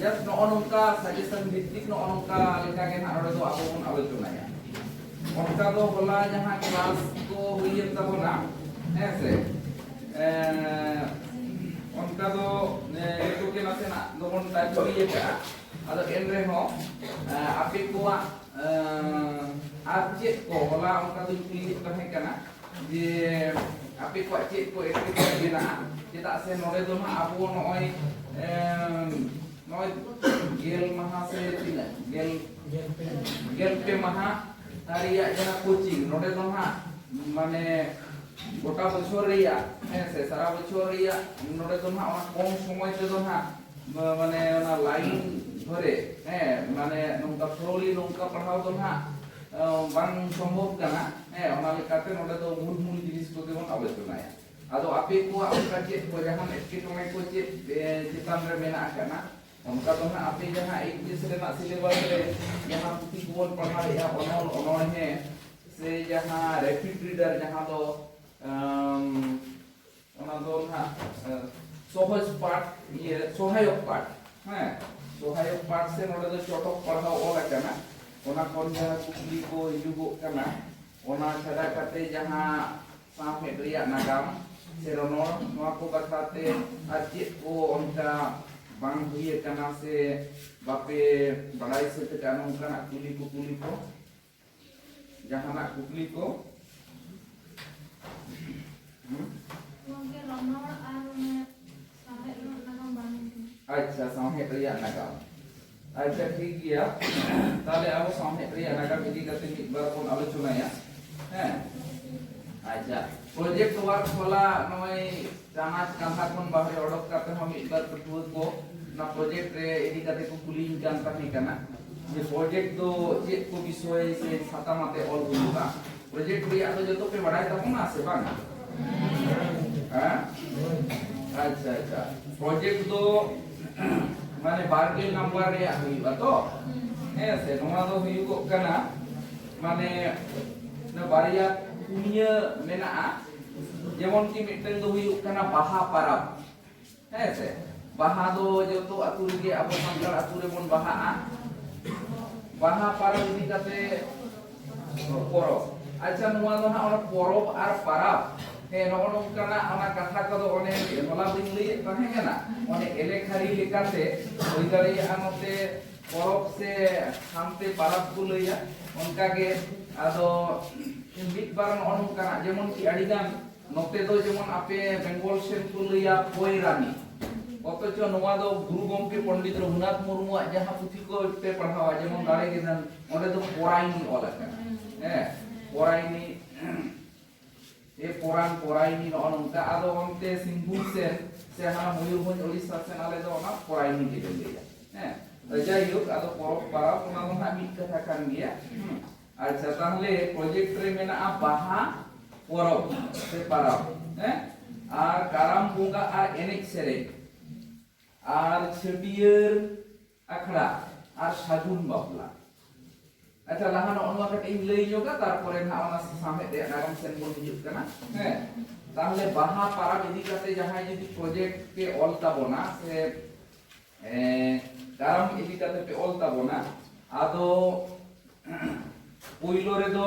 Just ᱱᱚᱜᱼᱚ ᱱᱚᱝᱠᱟ suggestion ᱵᱷᱤᱛᱛᱤᱠ ᱱᱚᱜᱼᱚ ᱱᱚᱝᱠᱟ ᱞᱮᱠᱟ ᱜᱮ ᱱᱟᱦᱟᱜ ᱱᱚᱰᱮ ᱫᱚ ᱟᱵᱚ ᱵᱚᱱ ᱟᱞᱳᱪᱚᱱᱟᱭᱟ ᱚᱱᱠᱟ ᱫᱚ ᱦᱚᱞᱟ ᱡᱟᱦᱟᱸ ᱠᱞᱟᱥ ᱠᱚ ᱦᱩᱭᱮᱱ ᱛᱟᱵᱚᱱᱟ ᱦᱮᱸ ᱥᱮ ᱚᱱᱠᱟ ᱫᱚ ᱱᱤᱛᱚᱜ ᱜᱮ ᱱᱟᱥᱮᱱᱟᱜ ᱫᱚᱵᱚᱱ ᱴᱟᱪ ᱦᱩᱭ ᱟᱠᱟᱫᱼᱟ ᱟᱫᱚ ᱮᱱ ᱨᱮᱦᱚᱸ ᱟᱯᱮ ᱠᱚᱣᱟᱜ ᱟᱨ ᱪᱮᱫ ᱠᱚ ᱦᱚᱞᱟ ᱚᱱᱠᱟ ᱫᱚᱧ ᱠᱩᱞᱤᱭᱮᱫ ᱛᱟᱦᱮᱸ ᱠᱟᱱᱟ ᱡᱮ ᱟᱯᱮ ᱠᱚᱣᱟᱜ ᱪᱮᱫ ᱠᱚ ᱮᱴᱠᱮᱴᱚᱬᱮ ᱢᱮᱱᱟᱜᱼᱟ ᱪᱮᱫᱟᱜ ᱥᱮ ᱱᱚᱰᱮ ᱫᱚ ᱦᱟᱸᱜ ᱟᱵᱚ ᱱᱚᱜᱼᱚᱭ ᱱᱚᱜᱼᱚᱭ ᱜᱮᱞ ᱢᱟᱦᱟ ᱥᱮ ᱛᱤᱱᱟᱹᱜ ᱜᱮᱞ ᱜᱮᱞ ᱯᱮ ᱢᱟᱦᱟ ᱨᱮᱭᱟᱜ ᱡᱟᱦᱟᱸ ᱠᱳᱪᱤᱝ ᱱᱚᱰᱮ ᱫᱚ ᱦᱟᱸᱜ ᱢᱟᱱᱮ ᱜᱚᱴᱟ ᱵᱚᱪᱷᱚᱨ ᱨᱮᱭᱟᱜ ᱦᱮᱸ ᱥᱮ ᱥᱟᱨᱟ ᱵᱚᱪᱷᱚᱨ ᱨᱮᱭᱟᱜ ᱱᱚᱰᱮ ᱫᱚ ᱦᱟᱸᱜ ᱚᱱᱟ ᱠᱚᱢ ᱥᱚᱢᱚᱭ ᱛᱮᱫᱚ ᱦᱟᱸᱜ ᱢᱟᱱᱮ ᱚᱱᱟ ᱞᱟᱭᱤᱱ ᱫᱷᱚᱨᱮ ᱦᱮᱸ ᱢᱟᱱᱮ ᱱᱚᱝᱠᱟ ᱯᱷᱞᱳᱞᱤ ᱱᱚᱝᱠᱟ ᱯᱟᱲᱦᱟᱣ ᱫᱚ ᱱᱟᱜ ᱵᱟᱝ ᱥᱚᱢᱵᱷᱚᱵ ᱠᱟᱱᱟ ᱦᱮᱸ ᱚᱱᱟ ᱞᱮᱠᱟᱛᱮ ᱱᱚᱰᱮ ᱫᱚ ᱢᱩᱞ ᱢᱩᱞ ᱡᱤᱱᱤᱥ ᱠᱚᱜᱮ ᱵᱚᱱ ᱟᱞᱳᱪᱚᱱᱟᱭᱟ ᱟᱫᱚ ᱟᱯᱮ ᱠᱚᱣᱟᱜ ᱚᱱᱠᱟ ᱪᱮᱫ ᱠᱚ ᱡᱟᱦᱟᱱ ᱮᱴᱠᱮᱴᱚᱬᱮ ᱠᱚ ᱪᱮᱫ ᱪᱮᱛᱟᱱ ᱨᱮ ᱢᱮᱱᱟᱜ ᱟᱠᱟᱱᱟ ᱚᱱᱠᱟ ᱫᱚ ᱱᱟᱜ ᱟᱯᱮ ᱡᱟᱦᱟᱸ ᱤᱝᱞᱤᱥ ᱨᱮᱱᱟᱜ ᱥᱤᱞᱮᱵᱟᱥ ᱨᱮ ᱡᱟᱦᱟᱸ ᱯᱩᱛᱷᱤ ᱠᱚᱵᱚᱱ ᱯᱟᱲᱦᱟᱣᱮᱫᱼᱟ ᱚᱱᱚᱞ ᱚᱱᱚᱬᱦᱮᱸ ᱥᱮ ᱡᱟᱦᱟᱸ ᱨᱮᱯᱤᱰ ᱨᱤᱰᱟᱨ ᱡᱟᱦᱟᱸ ᱫᱚ ᱚᱱᱟ ᱫᱚ ᱱᱟᱜ ᱥᱚᱦᱚᱡ ᱯᱟᱴ ᱤᱭᱟᱹ ᱥᱚᱦᱟᱭᱚᱠ ᱯᱟᱴ ᱦᱮᱸ ᱥᱚᱦᱟᱭᱚᱠ ᱯᱟᱴ ᱥᱮ ᱱᱚᱰᱮ ᱫᱚ ᱪᱚᱴᱚᱠ ᱯᱟᱲᱦᱟᱣ ᱚᱞ ᱟᱠᱟᱱᱟ ᱚᱱᱟ ᱠᱷᱚᱱ ᱡᱟᱦᱟᱸ ᱠᱩᱠᱞᱤ ᱠᱚ ᱦᱤᱡᱩᱜᱚᱜ ᱠᱟᱱᱟ ᱚᱱᱟ ᱪᱷᱟᱰᱟ ᱠᱟᱛᱮ ᱡᱟᱦᱟᱸ ᱥᱟᱶᱦᱮᱫ ᱨᱮᱭᱟᱜ ᱱᱟᱜᱟᱢ ᱥᱮ ᱨᱚᱱᱚᱲ ᱱᱚᱣᱟ ᱠᱚ ᱵᱟᱠᱷᱨᱟ ᱛᱮ ᱟᱨ ᱪᱮᱫ ᱠᱚ ᱚᱱᱠᱟ ᱵᱟᱝ ᱦᱩᱭ ᱟᱠᱟᱱᱟ ᱥᱮ ᱵᱟᱯᱮ ᱵᱟᱲᱟᱭ ᱥᱟᱹᱛ ᱟᱠᱟᱫ ᱱᱚᱝᱠᱟᱱᱟᱜ ᱠᱩᱞᱤ ᱠᱩᱯᱩᱞᱤ ᱠᱚ ᱡᱟᱦᱟᱱᱟᱜ ᱠᱩᱠᱞᱤ ᱠᱚ ᱟᱪᱪᱷᱟ ᱥᱟᱶᱦᱮᱫ ᱨᱮᱭᱟᱜ ᱱᱟᱜᱟᱢ ᱟᱪᱪᱷᱟ ᱴᱷᱤᱠ ᱜᱮᱭᱟ ᱛᱟᱦᱞᱮ ᱟᱵᱚ ᱥᱟᱶᱦᱮᱫ ᱨᱮᱭᱟᱜ ᱱᱟᱜᱟᱢ ᱤᱫᱤ ᱠᱟᱛᱮ ᱢᱤᱫ ᱵᱟᱨ ᱵᱚᱱ ᱟᱞᱳᱪᱚᱱᱟᱭᱟ ᱦᱮᱸ ᱟᱪᱪᱷᱟ ᱯᱨᱚᱡᱮᱠᱴ ᱣᱟᱨᱠ ᱦᱚᱞᱟ ᱱᱚᱜᱼᱚᱭ ᱪᱟᱱᱟᱪ ᱠᱟᱸᱫᱷᱟ ᱠᱷᱚᱱ ᱵᱟᱦᱨᱮ ᱚᱰᱚᱠ ᱠᱟᱛᱮ ᱦᱚᱸ ᱢᱤᱫ ᱵᱟᱨ ᱯᱟᱹᱴᱷᱩᱣᱟᱹ ᱠᱚ ᱚᱱᱟ ᱯᱨᱚᱡᱮᱠᱴ ᱨᱮ ᱤᱫᱤ ᱠᱟᱛᱮ ᱠᱚ ᱠᱩᱞᱤᱧ ᱠᱟᱱ ᱛᱟᱦᱮᱸ ᱠᱟᱱᱟ ᱡᱮ ᱯᱨᱚᱡᱮᱠᱴ ᱫᱚ ᱪᱮᱫ ᱠᱚ ᱵᱤᱥᱚᱭ ᱥᱮ ᱥᱟᱛᱟᱢ ᱟᱛᱮ ᱚᱞ ᱦᱩᱭᱩᱜᱼᱟ ᱯᱨᱚᱡᱮᱠᱴ ᱨᱮᱭᱟᱜ ᱫᱚ ᱡᱚᱛᱚ ᱯᱮ ᱵᱟᱲᱟᱭ ᱛᱟᱵᱚᱱᱟ ᱥᱮ ᱵᱟᱝᱟ ᱟᱪᱪᱷᱟ ᱟᱪᱪᱷᱟ ᱯᱨᱚᱡᱮᱠᱴ ᱫᱚ ᱢᱟᱱᱮ ᱵᱟᱨᱜᱮᱞ ᱱᱟᱢᱵᱟᱨ ᱨᱮᱭᱟᱜ ᱦᱩᱭᱩᱜᱼᱟ ᱛᱚ ᱦᱮᱸ ᱥᱮ ᱱᱚᱣᱟ ᱫᱚ ᱦᱩᱭᱩᱜᱚᱜ ᱠᱟᱱᱟ ᱢᱟᱱᱮ ᱵᱟᱨᱭᱟ ᱯᱩᱱᱭᱟᱹ ᱢᱮᱱᱟᱜᱼᱟ ᱡᱮᱢᱚᱱ ᱠᱤ ᱢᱤᱫᱴᱟᱝ ᱫᱚ ᱦᱩᱭᱩᱜ ᱠᱟᱱᱟ ᱵᱟᱦᱟ ᱯᱟᱨᱟᱵᱽ ᱦᱮᱸ ᱥᱮ ᱵᱟᱦᱟ ᱫᱚ ᱡᱚᱛᱚ ᱟᱹᱛᱩ ᱨᱮᱜᱮ ᱟᱵᱚ ᱥᱟᱱᱛᱟᱲ ᱟᱹᱛᱩ ᱨᱮᱵᱚᱱ ᱵᱟᱦᱟᱜᱼᱟ ᱵᱟᱦᱟ ᱯᱟᱨᱟᱵᱽ ᱤᱫᱤ ᱠᱟᱛᱮ ᱯᱚᱨᱚᱵᱽ ᱟᱪᱪᱷᱟ ᱱᱚᱣᱟ ᱫᱚ ᱦᱟᱸᱜ ᱚᱱᱟ ᱯᱚᱨᱚᱵᱽ ᱟᱨ ᱯᱟᱨᱟᱵᱽ ᱦᱮᱸ ᱱᱚᱜᱼᱚ ᱱᱚᱝᱠᱟᱱᱟᱜ ᱚᱱᱟ ᱠᱟᱛᱷᱟ ᱠᱚᱫᱚ ᱚᱱᱮ ᱦᱚᱞᱟ ᱵᱟᱹᱧ ᱞᱟᱹᱭᱮᱫ ᱛᱟᱦᱮᱸ ᱠᱟᱱᱟ ᱚᱱᱮ ᱮᱞᱮᱠᱷᱟᱨᱤ ᱞᱮᱠᱟᱛᱮ ᱦᱩᱭ ᱫᱟᱲᱮᱭᱟᱜᱼᱟ ᱱᱚᱛᱮ ᱯᱚᱨᱚᱵᱽ ᱥᱮ ᱦᱟᱱᱛᱮ ᱯᱟᱨᱟᱵᱽ ᱠᱚ ᱞᱟᱹᱭᱟ ᱚᱱᱠᱟᱜᱮ ᱟᱫᱚ ᱢᱤᱫ ᱵᱟᱨ ᱱᱚᱜᱼᱚ ᱱᱚᱝᱠᱟᱱᱟᱜ ᱡᱮᱢᱚᱱ ᱠᱤ ᱟᱹᱰᱤᱜᱟᱱ ᱱᱚᱛᱮ ᱫᱚ ᱡᱮᱢᱚᱱ ᱟᱯᱮ ᱵᱮᱝᱜᱚᱞ ᱥᱮᱫ ᱠᱚ ᱞᱟᱹᱭᱟ ᱯᱚᱭᱨᱟᱱᱤ ᱚᱛᱚᱪᱚ ᱱᱚᱣᱟ ᱫᱚ ᱜᱩᱨᱩ ᱜᱚᱢᱠᱮ ᱯᱚᱱᱰᱤᱛ ᱨᱚᱜᱷᱩᱱᱟᱛᱷ ᱢᱩᱨᱢᱩᱣᱟᱜ ᱡᱟᱦᱟᱸ ᱯᱩᱛᱷᱤ ᱠᱚ ᱯᱮ ᱯᱟᱲᱦᱟᱣᱟ ᱡᱮᱢᱚᱱ ᱫᱟᱲᱮ ᱜᱮ ᱫᱷᱟᱱ ᱚᱸᱰᱮ ᱫᱚ ᱯᱚᱨᱟᱭᱱᱤ ᱚᱞ ᱟᱠᱟᱱᱟ ᱦᱮᱸ ᱯᱚᱨᱟᱭᱱᱤ ᱮ ᱯᱚᱨᱟᱱ ᱯᱚᱨᱟᱭᱱᱤ ᱱᱚᱜᱼᱚ ᱱᱚᱝᱠᱟ ᱟᱫᱚ ᱚᱱᱛᱮ ᱥᱤᱝᱵᱷᱩᱢ ᱥᱮᱱ ᱥᱮ ᱦᱟᱱᱟ ᱢᱚᱭᱩᱨᱵᱷᱚᱸᱡᱽ ᱳᱲᱤᱥᱥᱟ ᱥᱮᱱ ᱟᱞᱮ ᱫᱚ ᱚᱱᱟ ᱯᱚᱨᱟᱭᱱᱤ ᱜᱮᱞᱮ ᱞᱟᱹᱭᱟ ᱦᱮᱸ ᱡᱟᱭᱦᱳᱠ ᱟᱫᱚ ᱯᱚᱨᱚᱵᱽ ᱯᱟᱨᱟᱵᱽ ᱚᱱᱟ ᱫᱚ ᱦᱟᱸᱜ ᱢᱤᱫ ᱠᱟᱛᱷᱟ ᱠᱟᱱ ᱜᱮᱭᱟ ᱟᱪᱪᱷᱟ ᱛᱟᱦᱞᱮ ᱯᱨᱚᱡᱮᱠᱴ ᱨᱮ ᱢᱮᱱᱟᱜᱼᱟ ᱵᱟᱦᱟ ᱯᱚᱨᱚᱵᱽ ᱥᱮ ᱯᱟᱨᱟᱵᱽ ᱦᱮᱸ ᱟᱨ ᱠᱟᱨᱟᱢ ᱵᱚᱸᱜᱟ ᱟᱨ ᱮᱱᱮᱡ ᱥᱮᱨᱮᱧ ᱟᱨ ᱪᱷᱟᱹᱴᱭᱟᱹᱨ ᱟᱠᱷᱲᱟ ᱟᱨ ᱥᱟᱹᱜᱩᱱ ᱵᱟᱯᱞᱟ ᱟᱪᱪᱷᱟ ᱞᱟᱦᱟ ᱱᱚᱜᱼᱚ ᱱᱚᱣᱟ ᱠᱟᱹᱴᱤᱡ ᱤᱧ ᱞᱟᱹᱭ ᱧᱚᱜᱟ ᱛᱟᱨᱯᱚᱨᱮ ᱱᱟᱦᱟᱜ ᱚᱱᱟ ᱥᱟᱶᱦᱮᱫ ᱨᱮᱭᱟᱜ ᱱᱟᱜᱟᱢ ᱥᱮᱱ ᱵᱚᱱ ᱦᱤᱡᱩᱜ ᱠᱟᱱᱟ ᱦᱮᱸ ᱛᱟᱦᱚᱞᱮ ᱵᱟᱦᱟ ᱯᱟᱨᱟᱵᱽ ᱤᱫᱤ ᱠᱟᱛᱮ ᱡᱟᱦᱟᱸᱭ ᱡᱩᱫᱤ ᱯᱨᱚᱡᱮᱠᱴ ᱯᱮ ᱚᱞ ᱛᱟᱵᱚᱱᱟ ᱥᱮ ᱠᱟᱨᱟᱢ ᱤᱫᱤ ᱠᱟᱛᱮ ᱯᱮ ᱚᱞ ᱛᱟᱵᱚᱱᱟ ᱟᱫᱚ ᱯᱩᱭᱞᱳ ᱨᱮᱫᱚ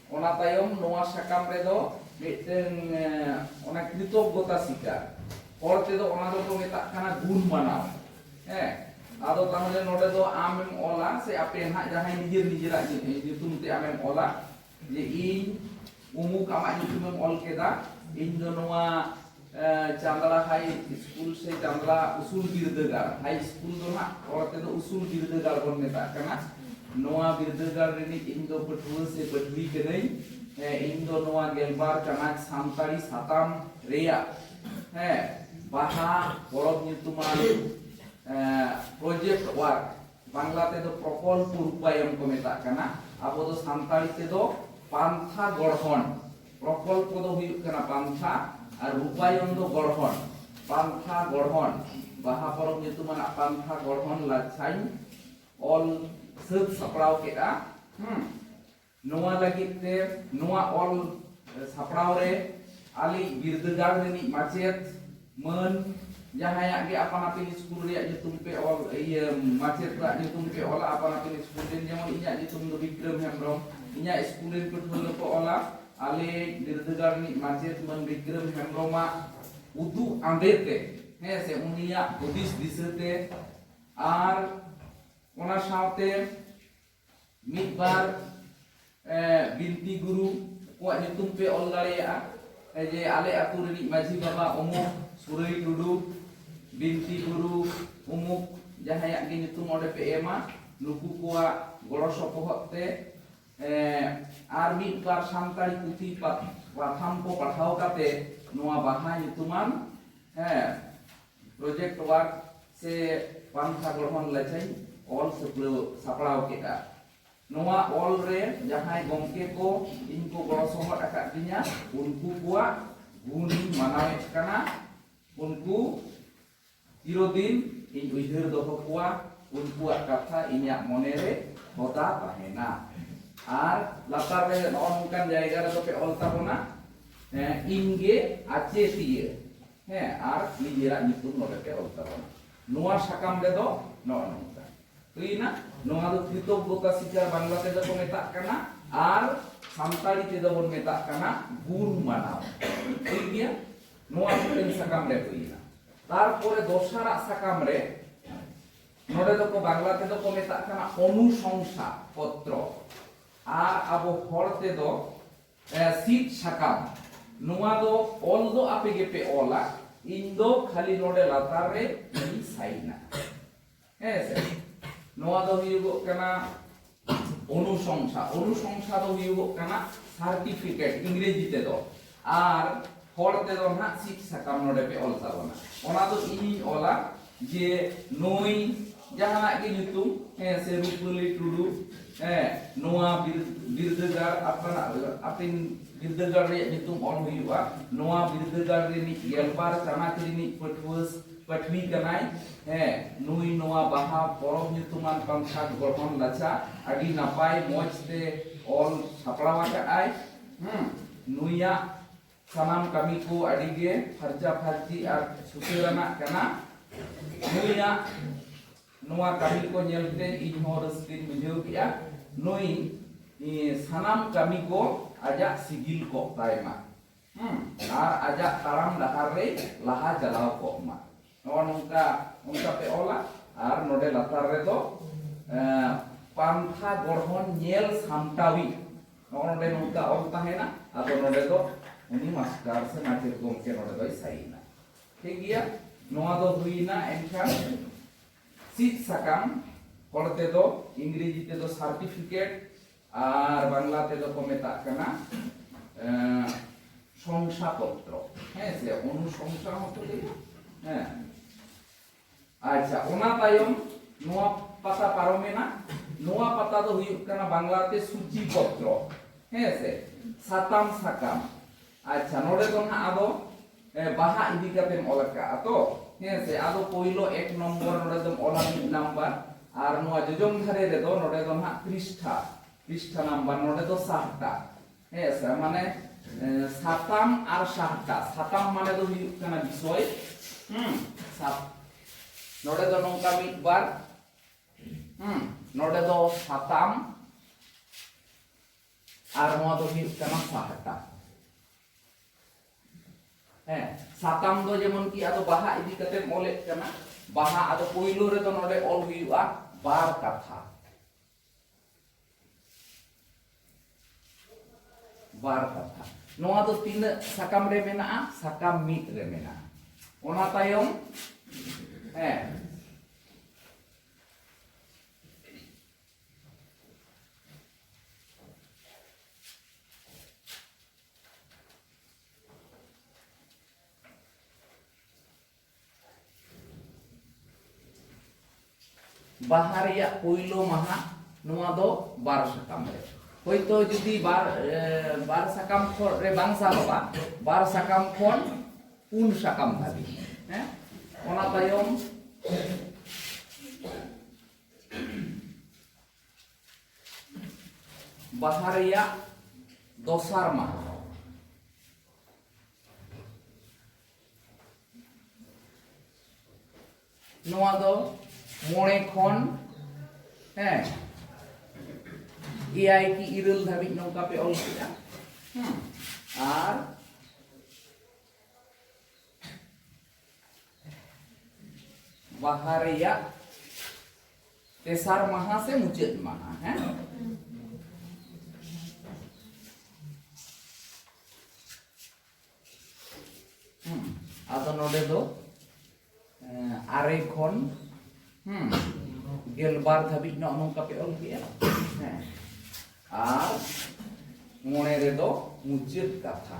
ᱚᱱᱟ ᱛᱟᱭᱚᱢ ᱱᱚᱣᱟ ᱥᱟᱠᱟᱢ ᱨᱮᱫᱚ ᱢᱤᱫᱴᱟᱝ ᱚᱱᱟ ᱠᱨᱤᱛᱚᱜᱽᱜᱚᱛᱟ ᱥᱤᱠᱟᱨ ᱦᱚᱲ ᱛᱮᱫᱚ ᱚᱱᱟ ᱫᱚᱠᱚ ᱢᱮᱛᱟᱜ ᱠᱟᱱᱟ ᱜᱩᱱ ᱢᱟᱱᱟᱣ ᱦᱮᱸ ᱟᱫᱚ ᱛᱟᱦᱚᱞᱮ ᱱᱚᱰᱮ ᱫᱚ ᱟᱢᱮᱢ ᱚᱞᱟ ᱥᱮ ᱟᱯᱮ ᱱᱟᱦᱟᱜ ᱡᱟᱦᱟᱸᱭ ᱱᱤᱡᱮᱨ ᱱᱤᱡᱮᱨᱟᱜ ᱧᱩᱛᱩᱢ ᱛᱮ ᱟᱢᱮᱢ ᱚᱞᱟ ᱡᱮ ᱤᱧ ᱩᱢᱩᱠ ᱟᱢᱟᱜ ᱧᱩᱛᱩᱢᱮᱢ ᱚᱞ ᱠᱮᱫᱟ ᱤᱧ ᱫᱚ ᱱᱚᱣᱟ ᱪᱟᱸᱫᱽᱲᱟ ᱦᱟᱭ ᱥᱠᱩᱞ ᱥᱮ ᱪᱟᱸᱫᱽᱲᱟ ᱩᱥᱩᱞ ᱵᱤᱨᱫᱟᱹᱜᱟᱲ ᱦᱟᱭ ᱥᱠᱩᱞ ᱫᱚ ᱦᱟᱸᱜ ᱨᱚᱲ ᱛᱮᱫᱚ ᱩᱥᱩᱞ ᱵᱤᱨᱫᱟᱹᱜᱟᱲ ᱵᱚᱱ ᱢᱮᱛᱟᱜ ᱠᱟᱱᱟ ᱱᱚᱣᱟ ᱵᱤᱨᱫᱟᱹᱜᱟᱲ ᱨᱤᱱᱤᱡ ᱤᱧ ᱫᱚ ᱯᱟᱹᱴᱷᱩᱣᱟᱹ ᱥᱮ ᱯᱟᱹᱴᱷᱩᱣᱤ ᱠᱟᱹᱱᱟᱹᱧ ᱤᱧ ᱫᱚ ᱱᱚᱣᱟ ᱜᱮᱞᱵᱟᱨ ᱪᱟᱱᱟᱪ ᱥᱟᱱᱛᱟᱲᱤ ᱥᱟᱛᱟᱢ ᱨᱮᱭᱟᱜ ᱦᱮᱸ ᱵᱟᱦᱟ ᱯᱚᱨᱚᱵᱽ ᱧᱩᱛᱩᱢᱟᱱ ᱯᱨᱚᱡᱮᱠᱴ ᱣᱟᱨᱠ ᱵᱟᱝᱞᱟ ᱛᱮᱫᱚ ᱯᱨᱚᱠᱚᱞᱯᱚ ᱨᱩᱯᱟᱭᱚᱱ ᱠᱚ ᱢᱮᱛᱟᱜ ᱠᱟᱱᱟ ᱟᱵᱚ ᱫᱚ ᱥᱟᱱᱛᱟᱲᱤ ᱛᱮᱫᱚ ᱯᱟᱱᱛᱷᱟ ᱜᱚᱲᱦᱚᱱ ᱯᱨᱚᱠᱚᱞᱯᱚ ᱫᱚ ᱦᱩᱭᱩᱜ ᱠᱟᱱᱟ ᱯᱟᱱᱛᱷᱟ ᱟᱨ ᱨᱩᱯᱟᱭᱚᱱ ᱫᱚ ᱜᱚᱲᱦᱚᱱ ᱯᱟᱱᱛᱷᱟ ᱜᱚᱲᱦᱚᱱ ᱵᱟᱦᱟ ᱯᱚᱨᱚᱵᱽ ᱧᱩᱛᱩᱢᱟᱱᱟᱜ ᱯᱟᱱᱛᱷᱟ ᱜᱚᱲᱦᱚᱱ ᱞᱟᱪᱷᱟᱧ ᱚᱞ ᱥᱟᱹᱛ ᱥᱟᱯᱲᱟᱣ ᱠᱮᱫᱼᱟ ᱦᱮᱸ ᱱᱚᱣᱟ ᱞᱟᱹᱜᱤᱫ ᱛᱮ ᱱᱚᱣᱟ ᱚᱞ ᱥᱟᱯᱲᱟᱣ ᱨᱮ ᱟᱞᱮ ᱵᱤᱨᱫᱟᱹᱜᱟᱲ ᱨᱤᱱᱤᱡ ᱢᱟᱪᱮᱫ ᱢᱟᱹᱱ ᱡᱟᱦᱟᱸᱭᱟᱜ ᱜᱮ ᱟᱯᱟᱱ ᱟᱹᱯᱤᱱ ᱤᱥᱠᱩᱞ ᱨᱮᱭᱟᱜ ᱧᱩᱛᱩᱢ ᱯᱮ ᱚᱞ ᱤᱭᱟᱹ ᱢᱟᱪᱮᱛ ᱠᱚᱣᱟᱜ ᱧᱩᱛᱩᱢ ᱯᱮ ᱚᱞᱟ ᱟᱯᱟᱱ ᱟᱹᱯᱤᱱ ᱤᱥᱠᱩᱞ ᱨᱮᱱ ᱡᱮᱢᱚᱱ ᱤᱧᱟᱹᱜ ᱧᱩᱛᱩᱢ ᱫᱚ ᱵᱤᱠᱨᱚᱢ ᱦᱮᱢᱵᱨᱚᱢ ᱤᱧᱟᱹᱜ ᱤᱥᱠᱩᱞ ᱨᱮᱱ ᱯᱟᱹᱴᱷᱩᱣᱟᱹ ᱫᱚᱠᱚ ᱚᱞᱟ ᱟᱞᱮ ᱵᱤᱨᱫᱟᱹᱜᱟᱲ ᱨᱤᱱᱤᱡ ᱢᱟᱪᱮᱛ ᱢᱟᱹᱱ ᱵᱤᱠᱨᱚᱢ ᱦᱮᱢᱵᱨᱚᱢᱟᱜ ᱩᱫᱩᱜ ᱟᱸᱫᱮ ᱛᱮ ᱦᱮᱸ ᱥᱮ ᱩᱱᱤᱭᱟᱜ ᱦᱩᱫᱤᱥ ᱫᱤᱥᱟᱹ ᱛᱮ ᱟᱨ ᱚᱱᱟ ᱥᱟᱶᱛᱮ ᱢᱤᱫ ᱵᱟᱨ ᱵᱤᱱᱛᱤ ᱜᱩᱨᱩ ᱠᱚᱣᱟᱜ ᱧᱩᱛᱩᱢ ᱯᱮ ᱚᱞ ᱫᱟᱲᱮᱭᱟᱜᱼᱟ ᱡᱮ ᱟᱞᱮ ᱟᱹᱛᱩ ᱨᱤᱱᱤᱡ ᱢᱟᱹᱡᱷᱤ ᱵᱟᱵᱟ ᱩᱢᱩᱠ ᱥᱩᱨᱟᱹᱭ ᱴᱩᱰᱩ ᱵᱤᱱᱛᱤ ᱜᱩᱨᱩ ᱩᱢᱩᱠ ᱡᱟᱦᱟᱸᱭᱟᱜ ᱜᱮ ᱧᱩᱛᱩᱢ ᱚᱸᱰᱮ ᱯᱮ ᱮᱢᱟ ᱱᱩᱠᱩ ᱠᱚᱣᱟᱜ ᱜᱚᱲᱚ ᱥᱚᱯᱚᱦᱚᱫ ᱛᱮ ᱟᱨ ᱢᱤᱫ ᱵᱟᱨ ᱥᱟᱱᱛᱟᱲᱤ ᱯᱩᱛᱷᱤ ᱯᱟᱛᱷᱟᱢ ᱠᱚ ᱯᱟᱲᱦᱟᱣ ᱠᱟᱛᱮ ᱱᱚᱣᱟ ᱵᱟᱦᱟ ᱧᱩᱛᱩᱢᱟᱱ ᱦᱮᱸ ᱯᱨᱚᱡᱮᱠᱴ ᱣᱟᱨᱠ ᱥᱮ ᱯᱟᱱᱛᱷᱟ ᱜᱚᱲᱦᱚᱱ ᱞᱟᱪᱷᱟᱧ ᱚᱞ ᱥᱟᱹᱯᱲᱟᱹᱣ ᱥᱟᱯᱲᱟᱣ ᱠᱮᱫᱼᱟ᱾ ᱱᱚᱣᱟ ᱚᱞ ᱨᱮ ᱡᱟᱦᱟᱸᱭ ᱜᱚᱢᱠᱮ ᱠᱚ ᱤᱧ ᱠᱚ ᱜᱚᱲᱚ ᱥᱚᱦᱚᱫ ᱟᱠᱟᱫ ᱫᱤᱧᱟ ᱩᱱᱠᱩ ᱠᱚᱣᱟᱜ ᱜᱩᱱ ᱤᱧ ᱢᱟᱱᱟᱣᱮᱫ ᱠᱟᱱᱟ᱾ ᱩᱱᱠᱩ ᱪᱤᱨᱚᱫᱤᱱ ᱤᱧ ᱩᱭᱦᱟᱹᱨ ᱫᱚᱦᱚ ᱠᱚᱣᱟ᱾ ᱩᱱᱠᱩᱣᱟᱜ ᱠᱟᱛᱷᱟ ᱤᱧᱟᱜ ᱢᱚᱱᱮ ᱨᱮ ᱦᱚᱫᱟ ᱛᱟᱦᱮᱸᱱᱟ᱾ ᱟᱨ ᱞᱟᱛᱟᱨ ᱨᱮ ᱱᱚᱜᱼᱚ ᱱᱚᱝᱠᱟᱱ ᱡᱟᱭᱜᱟ ᱨᱮᱫᱚ ᱯᱮ ᱚᱞ ᱛᱟᱵᱚᱱᱟ ᱤᱧ ᱜᱮ ᱟᱪᱮᱛᱤᱭᱟᱹ᱾ ᱦᱮᱸ ᱟᱨ ᱱᱤᱡᱮᱨᱟᱜ ᱧᱩᱛᱩᱢ ᱱᱚᱰᱮ ᱯᱮ ᱚᱞ ᱛᱟᱵᱚᱱᱟ ᱱᱚᱣᱟ ᱥᱟᱠᱟᱢ ᱨᱮᱫᱚ ᱱᱚᱜᱼᱚ ᱱᱚᱝᱠᱟ ᱦᱩᱭᱱᱟ ᱱᱚᱣᱟ ᱫᱚ ᱠᱨᱤᱛᱚᱜᱽᱜᱚᱛᱟ ᱥᱤᱠᱟᱨ ᱵᱟᱝᱞᱟ ᱛᱮᱫᱚ ᱠᱚ ᱢᱮᱛᱟᱜ ᱠᱟᱱᱟ ᱟᱨ ᱥᱟᱱᱛᱟᱲᱤ ᱛᱮᱫᱚ ᱵᱚᱱ ᱢᱮᱛᱟᱜ ᱠᱟᱱᱟ ᱜᱩᱨ ᱢᱟᱱᱟᱣ ᱴᱷᱤᱠ ᱜᱮᱭᱟ ᱱᱚᱣᱟ ᱢᱤᱫᱴᱮᱱ ᱥᱟᱠᱟᱢ ᱨᱮ ᱦᱩᱭᱱᱟ ᱛᱟᱨᱯᱚᱨᱮ ᱫᱚᱥᱟᱨᱟᱜ ᱥᱟᱠᱟᱢ ᱨᱮ ᱱᱚᱰᱮ ᱫᱚ ᱠᱚ ᱵᱟᱝᱞᱟ ᱛᱮᱫᱚ ᱠᱚ ᱢᱮᱛᱟᱜ ᱠᱟᱱᱟ ᱚᱱᱩᱥᱚᱝᱥᱟ ᱯᱚᱛᱨᱚ ᱟᱨ ᱟᱵᱚ ᱦᱚᱲ ᱛᱮᱫᱚ ᱥᱤᱫ ᱥᱟᱠᱟᱢ ᱱᱚᱣᱟ ᱫᱚ ᱚᱞ ᱫᱚ ᱟᱯᱮ ᱜᱮᱯᱮ ᱚᱞᱟ ᱤᱧ ᱫᱚ ᱠᱷᱟᱹᱞᱤ ᱱᱚᱰᱮ ᱞᱟᱛᱟᱨ ᱨᱮ ᱤᱧ ᱥᱟᱭᱤᱱᱟ ᱦᱮᱸ ᱥᱮ ᱱᱚᱣᱟ ᱫᱚ ᱦᱩᱭᱩᱜᱚᱜ ᱠᱟᱱᱟ ᱚᱱᱩᱥᱚᱝᱥᱟ ᱚᱱᱩᱥᱚᱝᱥᱟ ᱫᱚ ᱦᱩᱭᱩᱜᱚᱜ ᱠᱟᱱᱟ ᱥᱟᱨᱴᱤᱯᱷᱤᱠᱮᱴ ᱤᱝᱨᱮᱡᱤ ᱛᱮᱫᱚ ᱟᱨ ᱦᱚᱲ ᱛᱮᱫᱚ ᱱᱟᱦᱟᱜ ᱥᱤᱫ ᱥᱟᱠᱟᱢ ᱱᱚᱰᱮ ᱯᱮ ᱚᱞ ᱛᱟᱵᱚᱱᱟ ᱚᱱᱟ ᱫᱚ ᱤᱧᱤᱧ ᱚᱞᱟ ᱡᱮ ᱱᱩᱭ ᱡᱟᱦᱟᱱᱟᱜ ᱜᱮ ᱧᱩᱛᱩᱢ ᱦᱮᱸ ᱥᱮ ᱨᱩᱯᱟᱹᱞᱤ ᱴᱩᱰᱩ ᱦᱮᱸ ᱱᱚᱣᱟ ᱵᱤᱨᱫᱟᱹᱜᱟᱲ ᱟᱯᱱᱟᱜ ᱟᱯᱤᱱ ᱵᱤᱨᱫᱟᱹᱜᱟᱲ ᱨᱮᱭᱟᱜ ᱧᱩᱛᱩᱢ ᱚᱞ ᱦᱩᱭᱩᱜᱼᱟ ᱱᱚᱣᱟ ᱵᱤᱨᱫᱟᱹᱜᱟᱲ ᱨᱤᱱᱤᱡ ᱜᱮᱞᱵᱟᱨ ᱪᱟᱱᱟᱪ ᱨᱤᱱᱤᱡ ᱯᱟᱹᱴᱷᱩᱣᱟᱹ ᱯᱟᱹᱴᱷᱩᱣᱤ ᱠᱟᱱᱟᱭ ᱦᱮᱸ ᱱᱩᱭ ᱱᱚᱣᱟ ᱵᱟᱦᱟ ᱯᱚᱨᱚᱵᱽ ᱧᱩᱛᱩᱢᱟᱱ ᱯᱟᱱᱛᱷᱟ ᱜᱚᱲᱦᱚᱱ ᱞᱟᱪᱷᱟ ᱟᱹᱰᱤ ᱱᱟᱯᱟᱭ ᱢᱚᱡᱽ ᱛᱮ ᱚᱞ ᱥᱟᱯᱲᱟᱣ ᱟᱠᱟᱫᱼᱟᱭ ᱦᱮᱸ ᱱᱩᱭᱟᱜ ᱥᱟᱱᱟᱢ ᱠᱟᱹᱢᱤ ᱠᱚ ᱟᱹᱰᱤ ᱜᱮ ᱯᱷᱟᱨᱪᱟ ᱯᱷᱟᱨᱪᱤ ᱟᱨ ᱥᱩᱥᱟᱹᱨᱟᱱᱟᱜ ᱠᱟᱱᱟ ᱱᱩᱭᱟᱜ ᱱᱚᱣᱟ ᱠᱟᱹᱢᱤ ᱠᱚ ᱧᱮᱞᱛᱮ ᱤᱧ ᱦᱚᱸ ᱨᱟᱹᱥᱠᱟᱹᱧ ᱵᱩᱡᱷᱟᱹᱣ ᱠᱮᱜᱼᱟ ᱱᱩᱭ ᱥᱟᱱᱟᱢ ᱠᱟᱹᱢᱤ ᱠᱚ ᱟᱡᱟᱜ ᱥᱤᱜᱤᱞ ᱠᱚᱜ ᱛᱟᱭ ᱢᱟ ᱟᱨ ᱟᱡᱟᱜ ᱛᱟᱲᱟᱢ ᱰᱟᱦᱟᱨ ᱨᱮ ᱞᱟᱦᱟ ᱪᱟᱞᱟᱣ ᱠᱚᱜ ᱢᱟ ᱱᱚᱣᱟ ᱱᱚᱝᱠᱟ ᱚᱱᱠᱟ ᱯᱮ ᱚᱞᱟ ᱟᱨ ᱱᱚᱰᱮ ᱞᱟᱛᱟᱨ ᱨᱮᱫᱚ ᱯᱟᱱᱛᱷᱟ ᱜᱚᱲᱦᱚᱱ ᱧᱮᱞ ᱥᱟᱢᱴᱟᱣᱤᱡ ᱱᱚᱜᱼᱚ ᱱᱚᱰᱮ ᱱᱚᱝᱠᱟ ᱚᱞ ᱛᱟᱦᱮᱱᱟ ᱟᱫᱚ ᱱᱚᱰᱮ ᱫᱚ ᱩᱱᱤ ᱢᱟᱥᱴᱟᱨ ᱥᱮ ᱢᱟᱪᱮᱫ ᱜᱚᱢᱠᱮ ᱱᱚᱰᱮ ᱫᱚᱭ ᱥᱟᱭᱤᱱᱟ ᱴᱷᱤᱠ ᱜᱮᱭᱟ ᱱᱚᱣᱟ ᱫᱚ ᱦᱩᱭᱱᱟ ᱮᱱᱠᱷᱟᱱ ᱥᱤᱫ ᱥᱟᱠᱟᱢ ᱦᱚᱲ ᱛᱮᱫᱚ ᱤᱝᱨᱮᱡᱤ ᱛᱮᱫᱚ ᱥᱟᱨᱴᱤᱯᱷᱤᱠᱮᱴ ᱟᱨ ᱵᱟᱝᱞᱟ ᱛᱮᱫᱚ ᱠᱚ ᱢᱮᱛᱟᱜ ᱠᱟᱱᱟ ᱥᱚᱝᱥᱟ ᱯᱚᱛᱨᱚ ᱦᱮᱸ ᱥᱮ ᱚᱱᱩᱥᱚᱝᱥᱟ ᱦᱚᱸᱠᱚ ᱞᱟᱹᱭᱟ ᱦᱮᱸ ᱟᱪᱪᱷᱟ ᱚᱱᱟ ᱛᱟᱭᱚᱢ ᱱᱚᱣᱟ ᱯᱟᱛᱟ ᱯᱟᱨᱚᱢᱮᱱᱟ ᱱᱚᱣᱟ ᱯᱟᱛᱟ ᱫᱚ ᱦᱩᱭᱩᱜ ᱠᱟᱱᱟ ᱵᱟᱝᱞᱟᱛᱮ ᱥᱩᱪᱤ ᱯᱚᱛᱨᱚ ᱦᱮᱸ ᱥᱮ ᱥᱟᱛᱟᱢ ᱥᱟᱠᱟᱢ ᱟᱪᱪᱷᱟ ᱱᱚᱰᱮ ᱫᱚ ᱱᱟᱦᱟᱜ ᱟᱫᱚ ᱵᱟᱦᱟ ᱤᱫᱤ ᱠᱟᱛᱮᱢ ᱚᱞ ᱟᱠᱟᱫᱼᱟ ᱛᱚ ᱦᱮᱸ ᱥᱮ ᱟᱫᱚ ᱯᱳᱭᱞᱳ ᱮᱠ ᱱᱚᱢᱵᱚᱨ ᱱᱚᱰᱮ ᱫᱚᱢ ᱚᱞᱟ ᱢᱤᱫ ᱱᱟᱢᱵᱟᱨ ᱟᱨ ᱱᱚᱣᱟ ᱡᱚᱡᱚᱢ ᱫᱷᱟᱨᱮ ᱨᱮᱫᱚ ᱱᱚᱰᱮ ᱫᱚ ᱱᱟᱦᱟᱜ ᱯᱨᱤᱥᱴᱷᱟ ᱯᱨᱤᱥᱴᱷᱟ ᱱᱟᱢᱵᱟᱨ ᱱᱚᱰᱮ ᱫᱚ ᱥᱟᱦᱴᱟ ᱦᱮᱸ ᱥᱮ ᱢᱟᱱᱮ ᱥᱟᱛᱟᱢ ᱟᱨ ᱥᱟᱦᱴᱟ ᱥᱟᱛᱟᱢ ᱢᱟᱱᱮ ᱫᱚ ᱦᱩᱭᱩᱜ ᱠᱟᱱᱟ ᱵᱤᱥᱚᱭ ᱦᱩᱸ ᱥᱟᱛ ᱱᱚᱰᱮ ᱫᱚ ᱱᱚᱝᱠᱟ ᱢᱤᱫ ᱵᱟᱨ ᱦᱩᱸ ᱱᱚᱰᱮ ᱫᱚ ᱥᱟᱛᱟᱢ ᱟᱨ ᱱᱚᱣᱟ ᱫᱚ ᱦᱩᱭᱩᱜ ᱠᱟᱱᱟ ᱥᱟᱦᱴᱟ ᱦᱮᱸ ᱥᱟᱛᱟᱢ ᱫᱚ ᱡᱮᱢᱚᱱ ᱠᱤ ᱟᱫᱚ ᱵᱟᱦᱟ ᱤᱫᱤ ᱠᱟᱛᱮ ᱚᱞᱮᱫ ᱠᱟᱱᱟ ᱵᱟᱦᱟ ᱟᱫᱚ ᱯᱳᱭᱞᱳ ᱨᱮᱫᱚ ᱱᱚᱰᱮ ᱚᱞ ᱦᱩᱭᱩᱜᱼᱟ ᱵᱟᱨ ᱠᱟᱛᱷᱟ ᱵᱟᱨ ᱠᱟᱛᱷᱟ ᱱᱚᱣᱟ ᱫᱚ ᱛᱤᱱᱟᱹᱜ ᱥᱟᱠᱟᱢ ᱨᱮ ᱢᱮᱱᱟᱜᱼᱟ ᱥᱟᱠᱟᱢ ᱢᱤᱫ ᱨᱮ ᱢᱮᱱᱟᱜᱼᱟ ᱚᱱᱟ ᱛᱟᱭᱚᱢ ᱦᱮᱸ ᱵᱟᱦᱟ ᱨᱮᱭᱟᱜ ᱯᱩᱭᱞᱩ ᱢᱟᱦᱟ ᱱᱚᱣᱟ ᱫᱚ ᱵᱟᱨ ᱥᱟᱠᱟᱢ ᱨᱮ ᱦᱚᱭᱛᱚ ᱡᱩᱫᱤ ᱵᱟᱨ ᱵᱟᱨ ᱥᱟᱠᱟᱢ ᱠᱷᱚᱱ ᱨᱮ ᱵᱟᱝ ᱥᱟᱵᱚᱜᱼᱟ ᱵᱟᱨ ᱥᱟᱠᱟᱢ ᱠᱷᱚᱱ ᱯᱩᱱ ᱥᱟᱠᱟᱢ ᱫᱷᱟᱹᱵᱤᱡ ᱦᱮᱸ ᱚᱱᱟ ᱛᱟᱭᱚᱢ ᱵᱟᱦᱟ ᱨᱮᱭᱟᱜ ᱫᱚᱥᱟᱨ ᱢᱟᱦᱟ ᱱᱚᱣᱟ ᱫᱚ ᱢᱚᱬᱮ ᱠᱷᱚᱱ ᱦᱮᱸ ᱮᱭᱟᱭ ᱠᱤ ᱤᱨᱟᱹᱞ ᱫᱷᱟᱹᱵᱤᱡ ᱱᱚᱝᱠᱟ ᱯᱮ ᱚᱞ ᱠᱮᱫᱟ ᱟᱨ ᱵᱟᱦᱟ ᱨᱮᱭᱟᱜ ᱛᱮᱥᱟᱨ ᱢᱟᱦᱟ ᱥᱮ ᱢᱩᱪᱟᱹᱫ ᱢᱟᱦᱟ ᱦᱮᱸ ᱟᱫᱚ ᱱᱚᱰᱮ ᱫᱚ ᱟᱨᱮ ᱠᱷᱚᱱ ᱜᱮᱞᱵᱟᱨ ᱫᱷᱟᱹᱵᱤᱡ ᱱᱚᱜᱼᱚ ᱱᱚᱝᱠᱟ ᱯᱮ ᱚᱞ ᱠᱮᱜᱼᱟ ᱦᱮᱸ ᱟᱨ ᱢᱚᱬᱮ ᱨᱮᱫᱚ ᱢᱩᱪᱟᱹᱫ ᱠᱟᱛᱷᱟ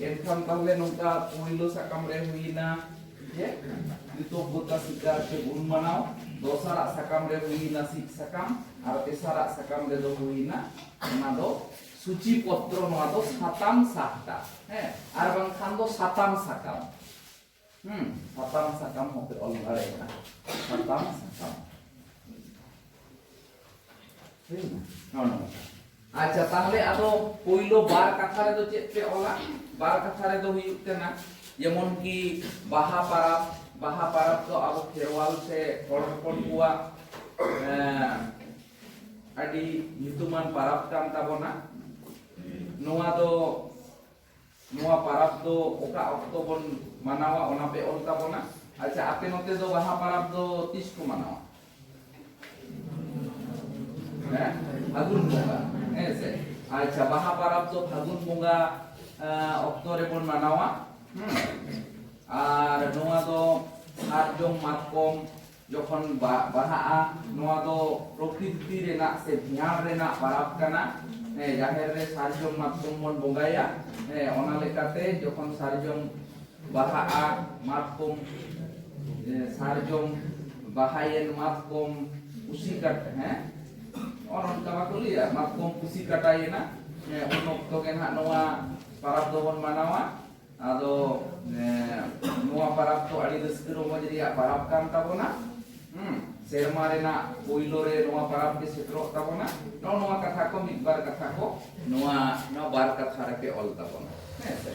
ᱮᱱᱠᱷᱟᱱ ᱛᱟᱦᱞᱮ ᱱᱚᱝᱠᱟ ᱯᱩᱭᱞᱩ ᱥᱟᱠᱟᱢ ᱨᱮ ᱦᱩᱭᱱᱟ ᱡᱮ ᱠᱨᱤᱛᱚᱜᱽᱜᱚᱛᱟ ᱥᱤᱠᱟᱨ ᱥᱮ ᱜᱩᱱ ᱢᱟᱱᱟᱣ ᱫᱚᱥᱟᱨᱟᱜ ᱥᱟᱠᱟᱢ ᱨᱮ ᱦᱩᱭᱱᱟ ᱥᱤᱫ ᱥᱟᱠᱟᱢ ᱟᱨ ᱛᱮᱥᱟᱨᱟᱜ ᱥᱟᱠᱟᱢ ᱨᱮ ᱫᱚ ᱦᱩᱭᱱᱟ ᱚᱱᱟ ᱫᱚ ᱥᱩᱪᱤ ᱯᱚᱛᱨᱚ ᱱᱚᱣᱟ ᱫᱚ ᱥᱟᱛᱟᱢ ᱥᱟᱦᱴᱟ ᱦᱮᱸ ᱟᱨ ᱵᱟᱝᱠᱷᱟᱱ ᱫᱚ ᱥᱟᱛᱟᱢ ᱥᱟᱠᱟᱢ ᱦᱩᱸ ᱥᱟᱛᱟᱢ ᱥᱟᱠᱟᱢ ᱦᱚᱸᱯᱮ ᱚᱞ ᱫᱟᱲᱮᱭᱟᱜᱼᱟ ᱥᱟᱛᱟᱢ ᱥᱟᱠᱟᱢ ᱦᱩᱭᱱᱟ ᱦᱚᱸ ᱱᱚᱝᱠᱟ ᱟᱪᱪᱷᱟ ᱛᱟᱦᱞᱮ ᱟᱫᱚ ᱯᱳᱭᱞᱳ ᱵᱟᱨ ᱠᱟᱛᱷᱟ ᱨᱮᱫᱚ ᱪᱮᱫ ᱯᱮ ᱚᱞᱟ ᱵᱟᱨ ᱠᱟᱛᱷᱟ ᱨᱮᱫᱚ ᱦᱩᱭᱩᱜ ᱠᱟᱱᱟ ᱡᱮᱢᱚᱱ ᱠᱤ ᱵᱟᱦᱟ ᱯᱟᱨᱟᱵᱽ ᱵᱟᱦᱟ ᱯᱟᱨᱟᱵᱽ ᱫᱚ ᱟᱵᱚ ᱠᱷᱮᱨᱣᱟᱞ ᱥᱮ ᱦᱚᱲ ᱦᱚᱯᱚᱱ ᱠᱚᱣᱟᱜ ᱟᱹᱰᱤ ᱧᱩᱛᱩᱢᱟᱱ ᱯᱟᱨᱟᱵᱽ ᱠᱟᱱ ᱛᱟᱵᱚᱱᱟ ᱱᱚᱣᱟ ᱫᱚ ᱱᱚᱣᱟ ᱯᱟᱨᱟᱵᱽ ᱫᱚ ᱚᱠᱟ ᱚᱠᱛᱚ ᱵᱚᱱ ᱢᱟᱱᱟᱣᱟ ᱚᱱᱟ ᱯᱮ ᱚᱞ ᱛᱟᱵᱚᱱᱟ ᱟᱪᱪᱷᱟ ᱟᱯᱮ ᱱᱚᱛᱮ ᱫᱚ ᱵᱟᱦᱟ ᱯᱟᱨᱟᱵᱽ ᱫᱚ ᱛᱤᱥ ᱠᱚ ᱢᱟᱱᱟᱣᱟ ᱦᱮᱸ ᱯᱷᱟᱹᱜᱩᱱ ᱵᱚᱸᱜᱟ ᱦᱮᱸ ᱥᱮ ᱟᱪᱪᱷᱟ ᱵᱟᱦᱟ ᱯᱟᱨᱟᱵᱽ ᱫᱚ ᱯᱷᱟᱹᱜᱩᱱ ᱵᱚᱸᱜᱟ ᱚᱠᱛᱚ ᱨᱮᱵᱚᱱ ᱢᱟᱱᱟᱣᱟ ᱟᱨ ᱱᱚᱣᱟ ᱫᱚ ᱥᱟᱨᱡᱚᱢ ᱢᱟᱛᱠᱚᱢ ᱡᱚᱠᱷᱚᱱ ᱵᱟᱦᱟᱜᱼᱟ ᱱᱚᱣᱟ ᱫᱚ ᱯᱨᱚᱠᱨᱤᱛᱤ ᱨᱮᱱᱟᱜ ᱥᱮ ᱵᱷᱮᱭᱟᱲ ᱨᱮᱱᱟᱜ ᱯᱟᱨᱟᱵᱽ ᱠᱟᱱᱟ ᱡᱟᱦᱮᱨ ᱨᱮ ᱥᱟᱨᱡᱚᱢ ᱢᱟᱛᱠᱚᱢ ᱵᱚᱱ ᱵᱚᱸᱜᱟᱭᱟ ᱚᱱᱟ ᱞᱮᱠᱟᱛᱮ ᱡᱚᱠᱷᱚᱱ ᱥᱟᱨᱡᱚᱢ ᱵᱟᱦᱟᱜᱼᱟ ᱢᱟᱛᱠᱚᱢ ᱥᱟᱨᱡᱚᱢ ᱵᱟᱦᱟᱭᱮᱱ ᱢᱟᱛᱠᱚᱢ ᱠᱩᱥᱤ ᱠᱟᱴ ᱦᱮᱸ ᱚᱱ ᱚᱱᱠᱟ ᱵᱟᱠᱚ ᱞᱟᱹᱭᱟ ᱢᱟᱛᱠᱚᱢ ᱠᱩᱥᱤ ᱠᱟᱴᱟᱭᱮᱱᱟ ᱩᱱ ᱚᱠᱛᱚ ᱜᱮ ᱱᱟᱦᱟᱜ ᱱᱚᱣᱟ ᱯᱟᱨᱟᱵᱽ ᱫᱚᱵᱚᱱ ᱢᱟᱱᱟᱣᱟ ᱟᱫᱚ ᱱᱚᱣᱟ ᱯᱟᱨᱟᱵᱽ ᱫᱚ ᱟᱹᱰᱤ ᱨᱟᱹᱥᱠᱟᱹ ᱨᱚᱢᱚᱡᱽ ᱨᱮᱭᱟᱜ ᱯᱟᱨᱟᱵᱽ ᱠᱟᱱ ᱛᱟᱵᱚᱱᱟ ᱥᱮᱨᱢᱟ ᱨᱮᱱᱟᱜ ᱯᱳᱭᱞᱳ ᱨᱮ ᱱᱚᱣᱟ ᱯᱟᱨᱟᱵᱽ ᱜᱮ ᱥᱮᱴᱮᱨᱚᱜ ᱛᱟᱵᱚᱱᱟ ᱱᱚᱜᱼᱚ ᱱᱚᱣᱟ ᱠᱟᱛᱷᱟ ᱠᱚ ᱢᱤᱫ ᱵᱟᱨ ᱠᱟᱛᱷᱟ ᱠᱚ ᱱᱚᱣᱟ ᱱᱚᱣᱟ ᱵᱟᱨ ᱠᱟᱛᱷᱟ ᱨᱮᱯᱮ ᱚᱞ ᱛᱟᱵᱚᱱᱟ ᱦᱮᱸ ᱥᱮ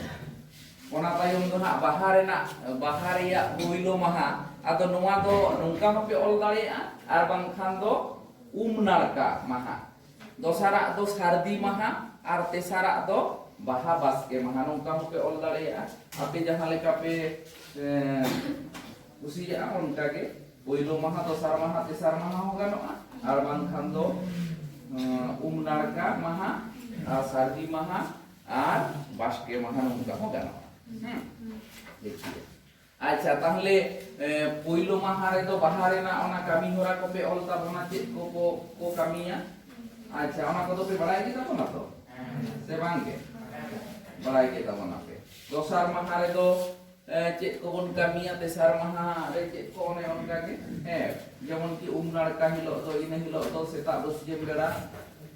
ᱚᱱᱟ ᱛᱟᱭᱚᱢ ᱫᱚ ᱦᱟᱸᱜ ᱵᱟᱦᱟ ᱨᱮᱱᱟᱜ ᱵᱟᱦᱟ ᱨᱮᱭᱟᱜ ᱯᱳᱭᱞᱳ ᱢᱟᱦᱟ ᱟᱫᱚ ᱱᱚᱣᱟ ᱫᱚ ᱱᱚᱝᱠᱟ ᱦᱚᱸᱯᱮ ᱚᱞ ᱫᱟᱲᱮᱭᱟᱜᱼᱟ ᱟᱨ ᱵᱟᱝᱠᱷᱟᱱ ᱫᱚ ᱩᱢ ᱱᱟᱲᱠᱟ ᱢᱟᱦᱟ ᱫᱚᱥᱟᱨᱟᱜ ᱫᱚ ᱥᱟᱹᱨᱫᱤ ᱢᱟᱦᱟ ᱟᱨ ᱛᱮᱥᱟᱨᱟᱜ ᱫᱚ ᱵᱟᱦᱟ ᱵᱟᱥᱠᱮ ᱢᱟᱦᱟ ᱱᱚᱝᱠᱟ ᱦᱚᱸᱯᱮ ᱚᱞ ᱫᱟᱲᱮᱭᱟᱜᱼᱟ ᱟᱯᱮ ᱡᱟᱦᱟᱸ ᱞᱮᱠᱟ ᱯᱮ ᱠᱩᱥᱤᱭᱟᱜᱼᱟ ᱚᱱᱠᱟ ᱜᱮ ᱯᱳᱭᱞᱳ ᱢᱟᱦᱟ ᱫᱚᱥᱟᱨ ᱢᱟᱦᱟ ᱛᱮᱥᱟᱨ ᱢᱟᱦᱟ ᱦᱚᱸ ᱜᱟᱱᱚᱜᱼᱟ ᱟᱨ ᱵᱟᱝᱠᱷᱟᱱ ᱫᱚ ᱩᱢ ᱱᱟᱲᱠᱟ ᱢᱟᱦᱟ ᱟᱨ ᱥᱟᱹᱨᱫᱤ ᱢᱟᱦᱟ ᱟᱨ ᱵᱟᱥᱠᱮ ᱢᱟᱦᱟ ᱱᱚᱝᱠᱟ ᱦᱚᱸ ᱜᱟᱱᱚᱜᱼᱟ ᱦᱮᱸ ᱴᱷᱤᱠ ᱜᱮᱭᱟ ᱟᱪᱪᱷᱟ ᱛᱟᱦᱞᱮ ᱯᱳᱭᱞᱳ ᱢᱟᱦᱟ ᱨᱮᱫᱚ ᱵᱟᱦᱟ ᱨᱮᱱᱟᱜ ᱚᱱᱟ ᱠᱟᱹᱢᱤ ᱦᱚᱨᱟ ᱠᱚᱯᱮ ᱚᱞ ᱛᱟᱵᱚᱱᱟ ᱪᱮᱫ ᱠᱚ ᱠᱚ ᱠᱚ ᱠᱟᱹᱢᱤᱭᱟ ᱟᱪᱪᱷᱟ ᱚᱱᱟ ᱠᱚᱫᱚ ᱯᱮ ᱵᱟᱲᱟᱭ ᱜᱮ ᱛᱟᱵᱚᱱᱟ ᱛᱚ ᱥᱮ ᱵᱟᱝ ᱜᱮ ᱵᱟᱲᱟᱭ ᱜᱮ ᱛᱟᱵᱚᱱᱟ ᱯᱮ ᱫᱚᱥᱟᱨ ᱢᱟᱦᱟ ᱨᱮᱫᱚ ᱪᱮᱫ ᱠᱚᱵᱚᱱ ᱠᱟᱹᱢᱤᱭᱟ ᱛᱮᱥᱟᱨ ᱢᱟᱦᱟ ᱨᱮ ᱪᱮᱫ ᱠᱚ ᱚᱱᱮ ᱚᱱᱠᱟ ᱜᱮ ᱦᱮᱸ ᱡᱮᱢᱚᱱ ᱠᱤ ᱩᱢ ᱱᱟᱲᱠᱟ ᱦᱤᱞᱳᱜ ᱫᱚ ᱤᱱᱟᱹ ᱦᱤᱞᱳᱜ ᱫᱚ ᱥᱮᱛᱟᱜ ᱵᱟᱹᱥᱭᱟᱹᱢ ᱵᱮᱲᱟ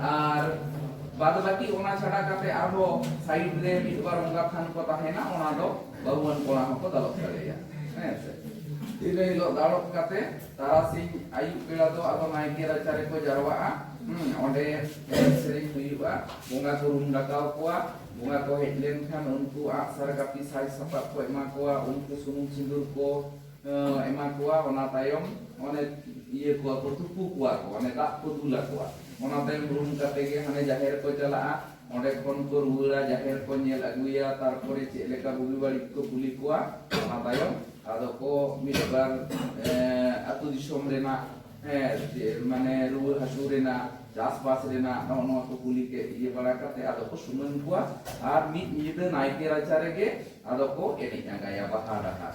ᱟᱨ ᱵᱟᱫ ᱵᱟᱹᱠᱤ ᱚᱱᱟ ᱪᱷᱟᱰᱟ ᱠᱟᱛᱮ ᱟᱨᱦᱚᱸ ᱥᱟᱭᱤᱰ ᱨᱮ ᱢᱤᱫ ᱵᱟᱨ ᱚᱱᱠᱟ ᱛᱷᱟᱱ ᱠᱚ ᱛᱟᱦᱮᱱᱟ ᱚᱱᱟ ᱫᱚ ᱵᱟᱹᱦᱩᱣᱟᱱ ᱠᱚᱲᱟ ᱦᱚᱸᱠᱚ ᱫᱟᱞᱚᱵ ᱫᱟᱲᱮᱭᱟᱜᱼᱟ ᱦᱮᱸ ᱥᱮ ᱤᱱᱟᱹ ᱦᱤᱞᱳᱜ ᱫᱟᱞᱚᱵ ᱠᱟᱛᱮ ᱛᱟᱨᱟᱥᱤᱧ ᱟᱹᱭᱩᱵ ᱵᱮᱲᱟ ᱫᱚ ᱟᱫᱚ ᱱᱟᱭᱠᱮ ᱨᱟᱪᱟ ᱨᱮᱠᱚ ᱡᱟᱨᱣᱟᱜᱼᱟ ᱚᱸᱰᱮ ᱮᱱᱮᱡ ᱥᱮᱨᱮᱧ ᱦᱩᱭᱩᱜᱼᱟ ᱵᱚᱸᱜᱟ ᱠᱚ ᱨᱩᱢ ᱰᱟᱠᱟᱣ ᱠᱚᱣᱟ ᱵᱚᱸᱜᱟ ᱠᱚ ᱦᱮᱡ ᱞᱮᱱᱠᱷᱟᱱ ᱩᱱᱠᱩ ᱟᱜ ᱥᱟᱨ ᱠᱟᱹᱯᱤ ᱥᱟᱡᱽ ᱥᱟᱯᱟᱵ ᱠᱚ ᱮᱢᱟ ᱠᱚᱣᱟ ᱩᱱᱠᱩ ᱥᱩᱱᱩᱢ ᱥᱤᱸᱫᱩᱨ ᱠᱚ ᱮᱢᱟ ᱠᱚᱣᱟ ᱚᱱᱟ ᱛᱟᱭᱚᱢ ᱚᱱᱮ ᱤᱭᱟᱹ ᱠᱚᱣᱟ ᱠᱚ ᱛᱩᱯᱩ ᱠᱚᱣᱟ ᱠᱚ ᱚᱱᱮ ᱫᱟᱜ ᱠᱚ ᱫᱩᱞ ᱟᱠᱚᱣᱟ ᱚᱱᱟ ᱛᱟᱭᱚᱢ ᱨᱩᱢ ᱠᱟᱛᱮ ᱜᱮ ᱦᱟᱱᱮ ᱡᱟᱦᱮᱨ ᱠᱚ ᱪᱟᱞᱟᱜᱼᱟ ᱚᱸᱰᱮ ᱠᱷᱚᱱ ᱠᱚ ᱨᱩᱣᱟᱹᱲᱟ ᱡᱟᱦᱮᱨ ᱠᱚ ᱧᱮᱞ ᱟᱹᱜᱩᱭᱟ ᱛᱟᱨᱯᱚᱨᱮ ᱪᱮᱫ ᱞᱮᱠᱟ ᱵᱩᱜᱤ ᱵᱟᱹᱲᱤᱡ ᱠᱚ ᱠᱩᱞᱤ ᱠᱚᱣᱟ ᱚᱱᱟ ᱛᱟᱭᱚᱢ ᱟᱫᱚ ᱠᱚ ᱢᱤᱫ ᱵᱟᱨ ᱟᱹᱛᱩ ᱫᱤᱥᱚᱢ ᱨᱮᱱᱟᱜ ᱢᱟᱱᱮ ᱨᱩᱣᱟᱹ ᱦᱟᱹᱥᱩ ᱨᱮᱱᱟᱜ ᱪᱟᱥᱵᱟᱥ ᱨᱮᱱᱟᱜ ᱱᱚᱜᱼᱚ ᱱᱚᱣᱟ ᱠᱚ ᱠᱩᱞᱤ ᱠᱮᱫ ᱤᱭᱟᱹ ᱵᱟᱲᱟ ᱠᱟᱛᱮ ᱟᱫᱚ ᱠᱚ ᱥᱩᱢᱟᱹᱱ ᱠᱚᱣᱟ ᱟᱨ ᱢᱤᱫ ᱧᱤᱫᱟᱹ ᱱᱟᱭᱠᱮ ᱨᱟᱪᱟ ᱨᱮᱜᱮ ᱟᱫᱚ ᱠᱚ ᱮᱱᱮᱡ ᱟᱸᱜᱟᱭᱟ ᱵᱟᱦᱟ ᱰᱟᱦᱟᱨ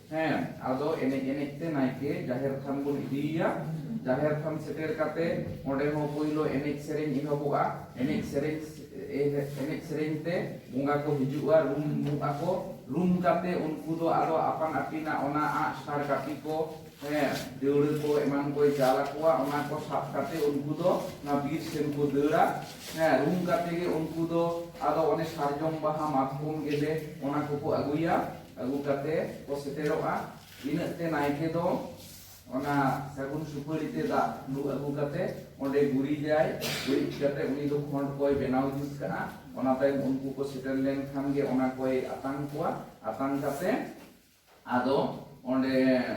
ᱦᱮᱸ ᱟᱫᱚ ᱮᱱᱮᱡ ᱮᱱᱮᱡ ᱛᱮ ᱱᱟᱭᱠᱮ ᱡᱟᱦᱮᱨ ᱛᱷᱟᱱ ᱵᱚᱱ ᱤᱫᱤᱭᱮᱭᱟ ᱡᱟᱦᱮᱨ ᱛᱷᱟᱱ ᱥᱮᱴᱮᱨ ᱠᱟᱛᱮ ᱚᱸᱰᱮ ᱦᱚᱸ ᱯᱳᱭᱞᱳ ᱮᱱᱮᱡ ᱥᱮᱨᱮᱧ ᱮᱦᱚᱵᱚᱜᱼᱟ ᱮᱱᱮᱡ ᱥᱮᱨᱮᱧ ᱮᱱᱮᱡ ᱥᱮᱨᱮᱧ ᱛᱮ ᱵᱚᱸᱜᱟ ᱠᱚ ᱦᱤᱡᱩᱜᱼᱟ ᱨᱩᱢ ᱨᱩᱢ ᱟᱠᱚ ᱨᱩᱢ ᱠᱟᱛᱮ ᱩᱱᱠᱩ ᱫᱚ ᱟᱫᱚ ᱟᱯᱟᱱ ᱟᱹᱯᱤᱱᱟᱜ ᱚᱱᱟ ᱟᱸᱜ ᱥᱟᱨ ᱠᱟᱹᱯᱤ ᱠᱚ ᱦᱮᱸ ᱫᱟᱹᱣᱲᱟᱹ ᱠᱚ ᱮᱢᱟᱱ ᱠᱚᱭ ᱪᱟᱞ ᱟᱠᱚᱣᱟ ᱚᱱᱟ ᱠᱚ ᱥᱟᱵ ᱠᱟᱛᱮ ᱩᱱᱠᱩ ᱫᱚ ᱚᱱᱟ ᱵᱤᱨ ᱥᱮᱱ ᱠᱚ ᱫᱟᱹᱲᱟ ᱦᱮᱸ ᱨᱩᱢ ᱠᱟᱛᱮ ᱜᱮ ᱩᱱᱠᱩ ᱫᱚ ᱟᱫᱚ ᱚᱱᱮ ᱥᱟᱨᱡᱚᱢ ᱵᱟᱦᱟ ᱢᱟᱛᱠᱚᱢ ᱜᱮᱞᱮ ᱚᱱᱟ ᱠᱚᱠᱚ ᱟᱹᱜᱩᱭᱟ ᱟᱹᱜᱩ ᱠᱟᱛᱮ ᱠᱚ ᱥᱮᱴᱮᱨᱚᱜᱼᱟ ᱤᱱᱟᱹᱜ ᱛᱮ ᱱᱟᱭᱠᱮ ᱫᱚ ᱚᱱᱟ ᱥᱟᱹᱜᱩᱱ ᱥᱩᱯᱟᱹᱲᱤ ᱛᱮ ᱫᱟᱜ ᱞᱩ ᱟᱹᱜᱩ ᱠᱟᱛᱮ ᱚᱸᱰᱮ ᱜᱩᱨᱤᱡᱟᱭ ᱜᱩᱨᱤᱡ ᱠᱟᱛᱮ ᱩᱱᱤ ᱫᱚ ᱠᱷᱚᱸᱰ ᱠᱚᱭ ᱵᱮᱱᱟᱣ ᱡᱩᱛ ᱠᱟᱜᱼᱟ ᱚᱱᱟ ᱛᱟᱭᱚᱢ ᱩᱱᱠᱩ ᱠᱚ ᱥᱮᱴᱮᱨ ᱞᱮᱱᱠᱷᱟᱱ ᱜᱮ ᱚᱱᱟ ᱠᱚᱭ ᱟᱛᱟᱝ ᱠᱚᱣᱟ ᱟᱛᱟᱝ ᱠᱟᱛᱮ ᱟᱫᱚ ᱚᱸᱰᱮ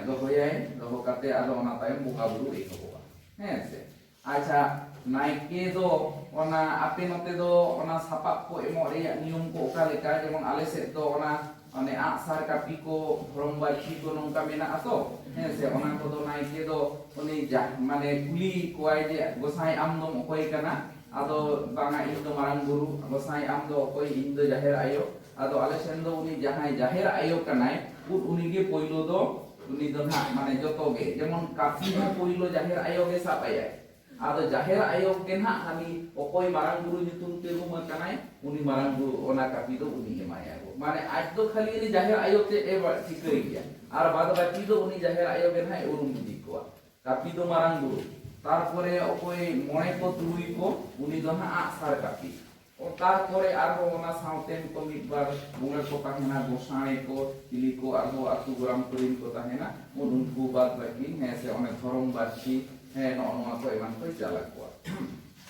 ᱫᱚᱦᱚᱭᱟᱭ ᱫᱚᱦᱚ ᱠᱟᱛᱮ ᱟᱫᱚ ᱚᱱᱟ ᱛᱟᱭᱚᱢ ᱵᱚᱸᱜᱟ ᱵᱩᱨᱩ ᱮᱦᱚᱵᱚᱜᱼᱟ ᱦᱮᱸ ᱥᱮ ᱟᱪᱪᱷᱟ ᱱᱟᱭᱠᱮ ᱫᱚ ᱚᱱᱟ ᱟᱯᱮ ᱱᱚᱛᱮ ᱫᱚ ᱚᱱᱟ ᱥᱟᱯᱟᱵ ᱠᱚ ᱮᱢᱚᱜ ᱨᱮᱭᱟᱜ ᱱᱤᱭᱚᱢ ᱠᱚ ᱚᱠᱟ ᱞᱮᱠᱟ ᱡᱮᱢᱚᱱ ᱟᱞᱮ ᱥᱮᱫ ᱫᱚ ᱚᱱᱟ ᱚᱱᱮ ᱟᱜ ᱥᱟᱨ ᱠᱟᱹᱯᱤ ᱠᱚ ᱫᱷᱚᱨᱚᱢ ᱵᱟᱹᱲᱛᱤ ᱠᱚ ᱱᱚᱝᱠᱟ ᱢᱮᱱᱟᱜᱼᱟ ᱛᱚ ᱦᱮᱸ ᱥᱮ ᱚᱱᱟ ᱠᱚᱫᱚ ᱱᱟᱭᱠᱮ ᱫᱚ ᱩᱱᱤ ᱢᱟᱱᱮ ᱠᱩᱞᱤ ᱠᱚᱣᱟᱭ ᱡᱮ ᱜᱚᱥᱟᱭ ᱟᱢ ᱫᱚᱢ ᱚᱠᱚᱭ ᱠᱟᱱᱟ ᱟᱫᱚ ᱵᱟᱝᱟ ᱤᱧ ᱫᱚ ᱢᱟᱨᱟᱝ ᱵᱩᱨᱩ ᱜᱚᱥᱟᱭ ᱟᱢ ᱫᱚ ᱚᱠᱚᱭ ᱤᱧ ᱫᱚ ᱡᱟᱦᱮᱨ ᱟᱭᱳ ᱟᱫᱚ ᱟᱞᱮ ᱥᱮᱱ ᱫᱚ ᱩᱱᱤ ᱡᱟᱦᱟᱸᱭ ᱡᱟᱦᱮᱨ ᱟᱭᱳ ᱠᱟᱱᱟᱭ ᱩᱱ ᱩᱱᱤ ᱜᱮ ᱯᱳᱭᱞᱳ ᱫᱚ ᱩᱱᱤ ᱫᱚ ᱱᱟᱜ ᱢᱟᱱᱮ ᱡᱚᱛᱚ ᱜᱮ ᱡᱮᱢᱚᱱ ᱠᱟᱥᱤ ᱦᱚᱸ ᱯᱳᱭᱞᱳ ᱡᱟᱦᱮᱨ ᱟᱭᱳ ᱜᱮ ᱥᱟᱵ ᱟᱭᱟᱭ ᱟᱫᱚ ᱡᱟᱦᱮᱨ ᱟᱭᱳ ᱜᱮ ᱱᱟᱜ ᱦᱟᱹᱱᱤ ᱚᱠᱚᱭ ᱢᱟᱨᱟᱝ ᱵᱩᱨᱩ ᱧᱩᱛᱩᱢ ᱛᱮ ᱨᱩᱢ ᱟᱠᱟᱱᱟᱭ ᱩᱱᱤ ᱢᱟᱨᱟᱝ ᱵᱩᱨᱩ ᱚᱱᱟ ᱠᱟᱯᱤ ᱫᱚ ᱩᱱᱤ ᱮᱢᱟᱭᱟ ᱢᱟᱱᱮ ᱟᱡ ᱫᱚ ᱠᱷᱟᱹᱞᱤ ᱩᱱᱤ ᱡᱟᱦᱮᱨ ᱟᱭᱳ ᱛᱮ ᱮ ᱴᱷᱤᱠᱟᱹᱭ ᱜᱮᱭᱟ ᱟᱨ ᱵᱟᱫ ᱵᱟᱹᱠᱤ ᱫᱚ ᱩᱱᱤ ᱡᱟᱦᱮᱨ ᱟᱭᱳ ᱜᱮ ᱱᱟᱜ ᱩᱨᱩᱢ ᱤᱫᱤ ᱠᱚᱣᱟ ᱠᱟᱯᱤ ᱫᱚ ᱢᱟᱨᱟᱝ ᱵᱩᱨᱩ ᱛᱟᱨᱯᱚᱨᱮ ᱚᱠᱚᱭ ᱢᱚᱬᱮ ᱠᱚ ᱛᱩᱨᱩᱭ ᱠᱚ ᱩᱱᱤ ᱫᱚ ᱱᱟᱜ ᱟᱜ ᱥᱟᱨ ᱠᱟᱯᱤ ᱚᱛᱟᱨ ᱠᱚᱨᱮ ᱟᱨᱦᱚᱸ ᱚᱱᱟ ᱥᱟᱶᱛᱮᱱ ᱠᱚ ᱢᱤᱫ ᱵᱟᱨ ᱵᱚᱸᱜᱟ ᱠᱚ ᱛᱟᱦᱮᱱᱟ ᱜᱚᱥᱟᱬᱮ ᱠᱚ ᱪᱤᱞᱤ ᱠᱚ ᱟᱨᱦᱚᱸ ᱟᱛᱳ ᱜᱚᱨᱟᱢ ᱠᱚᱨᱮᱱ ᱠᱚ ᱛᱟᱦᱮᱱᱟ ᱩᱱ ᱩᱱᱠᱩ ᱵᱟᱫ ᱵᱟᱹᱠᱤ ᱦᱮᱸ ᱥᱮ ᱚᱱᱮ ᱫᱷᱚᱨᱚᱢ ᱵᱟᱹᱨᱥᱤ ᱦᱮᱸ ᱱᱚᱜᱼᱚ ᱱᱚᱣᱟ ᱠᱚ ᱮᱢᱟᱱ ᱠᱚ ᱪᱟᱞ ᱟᱠᱚᱣᱟ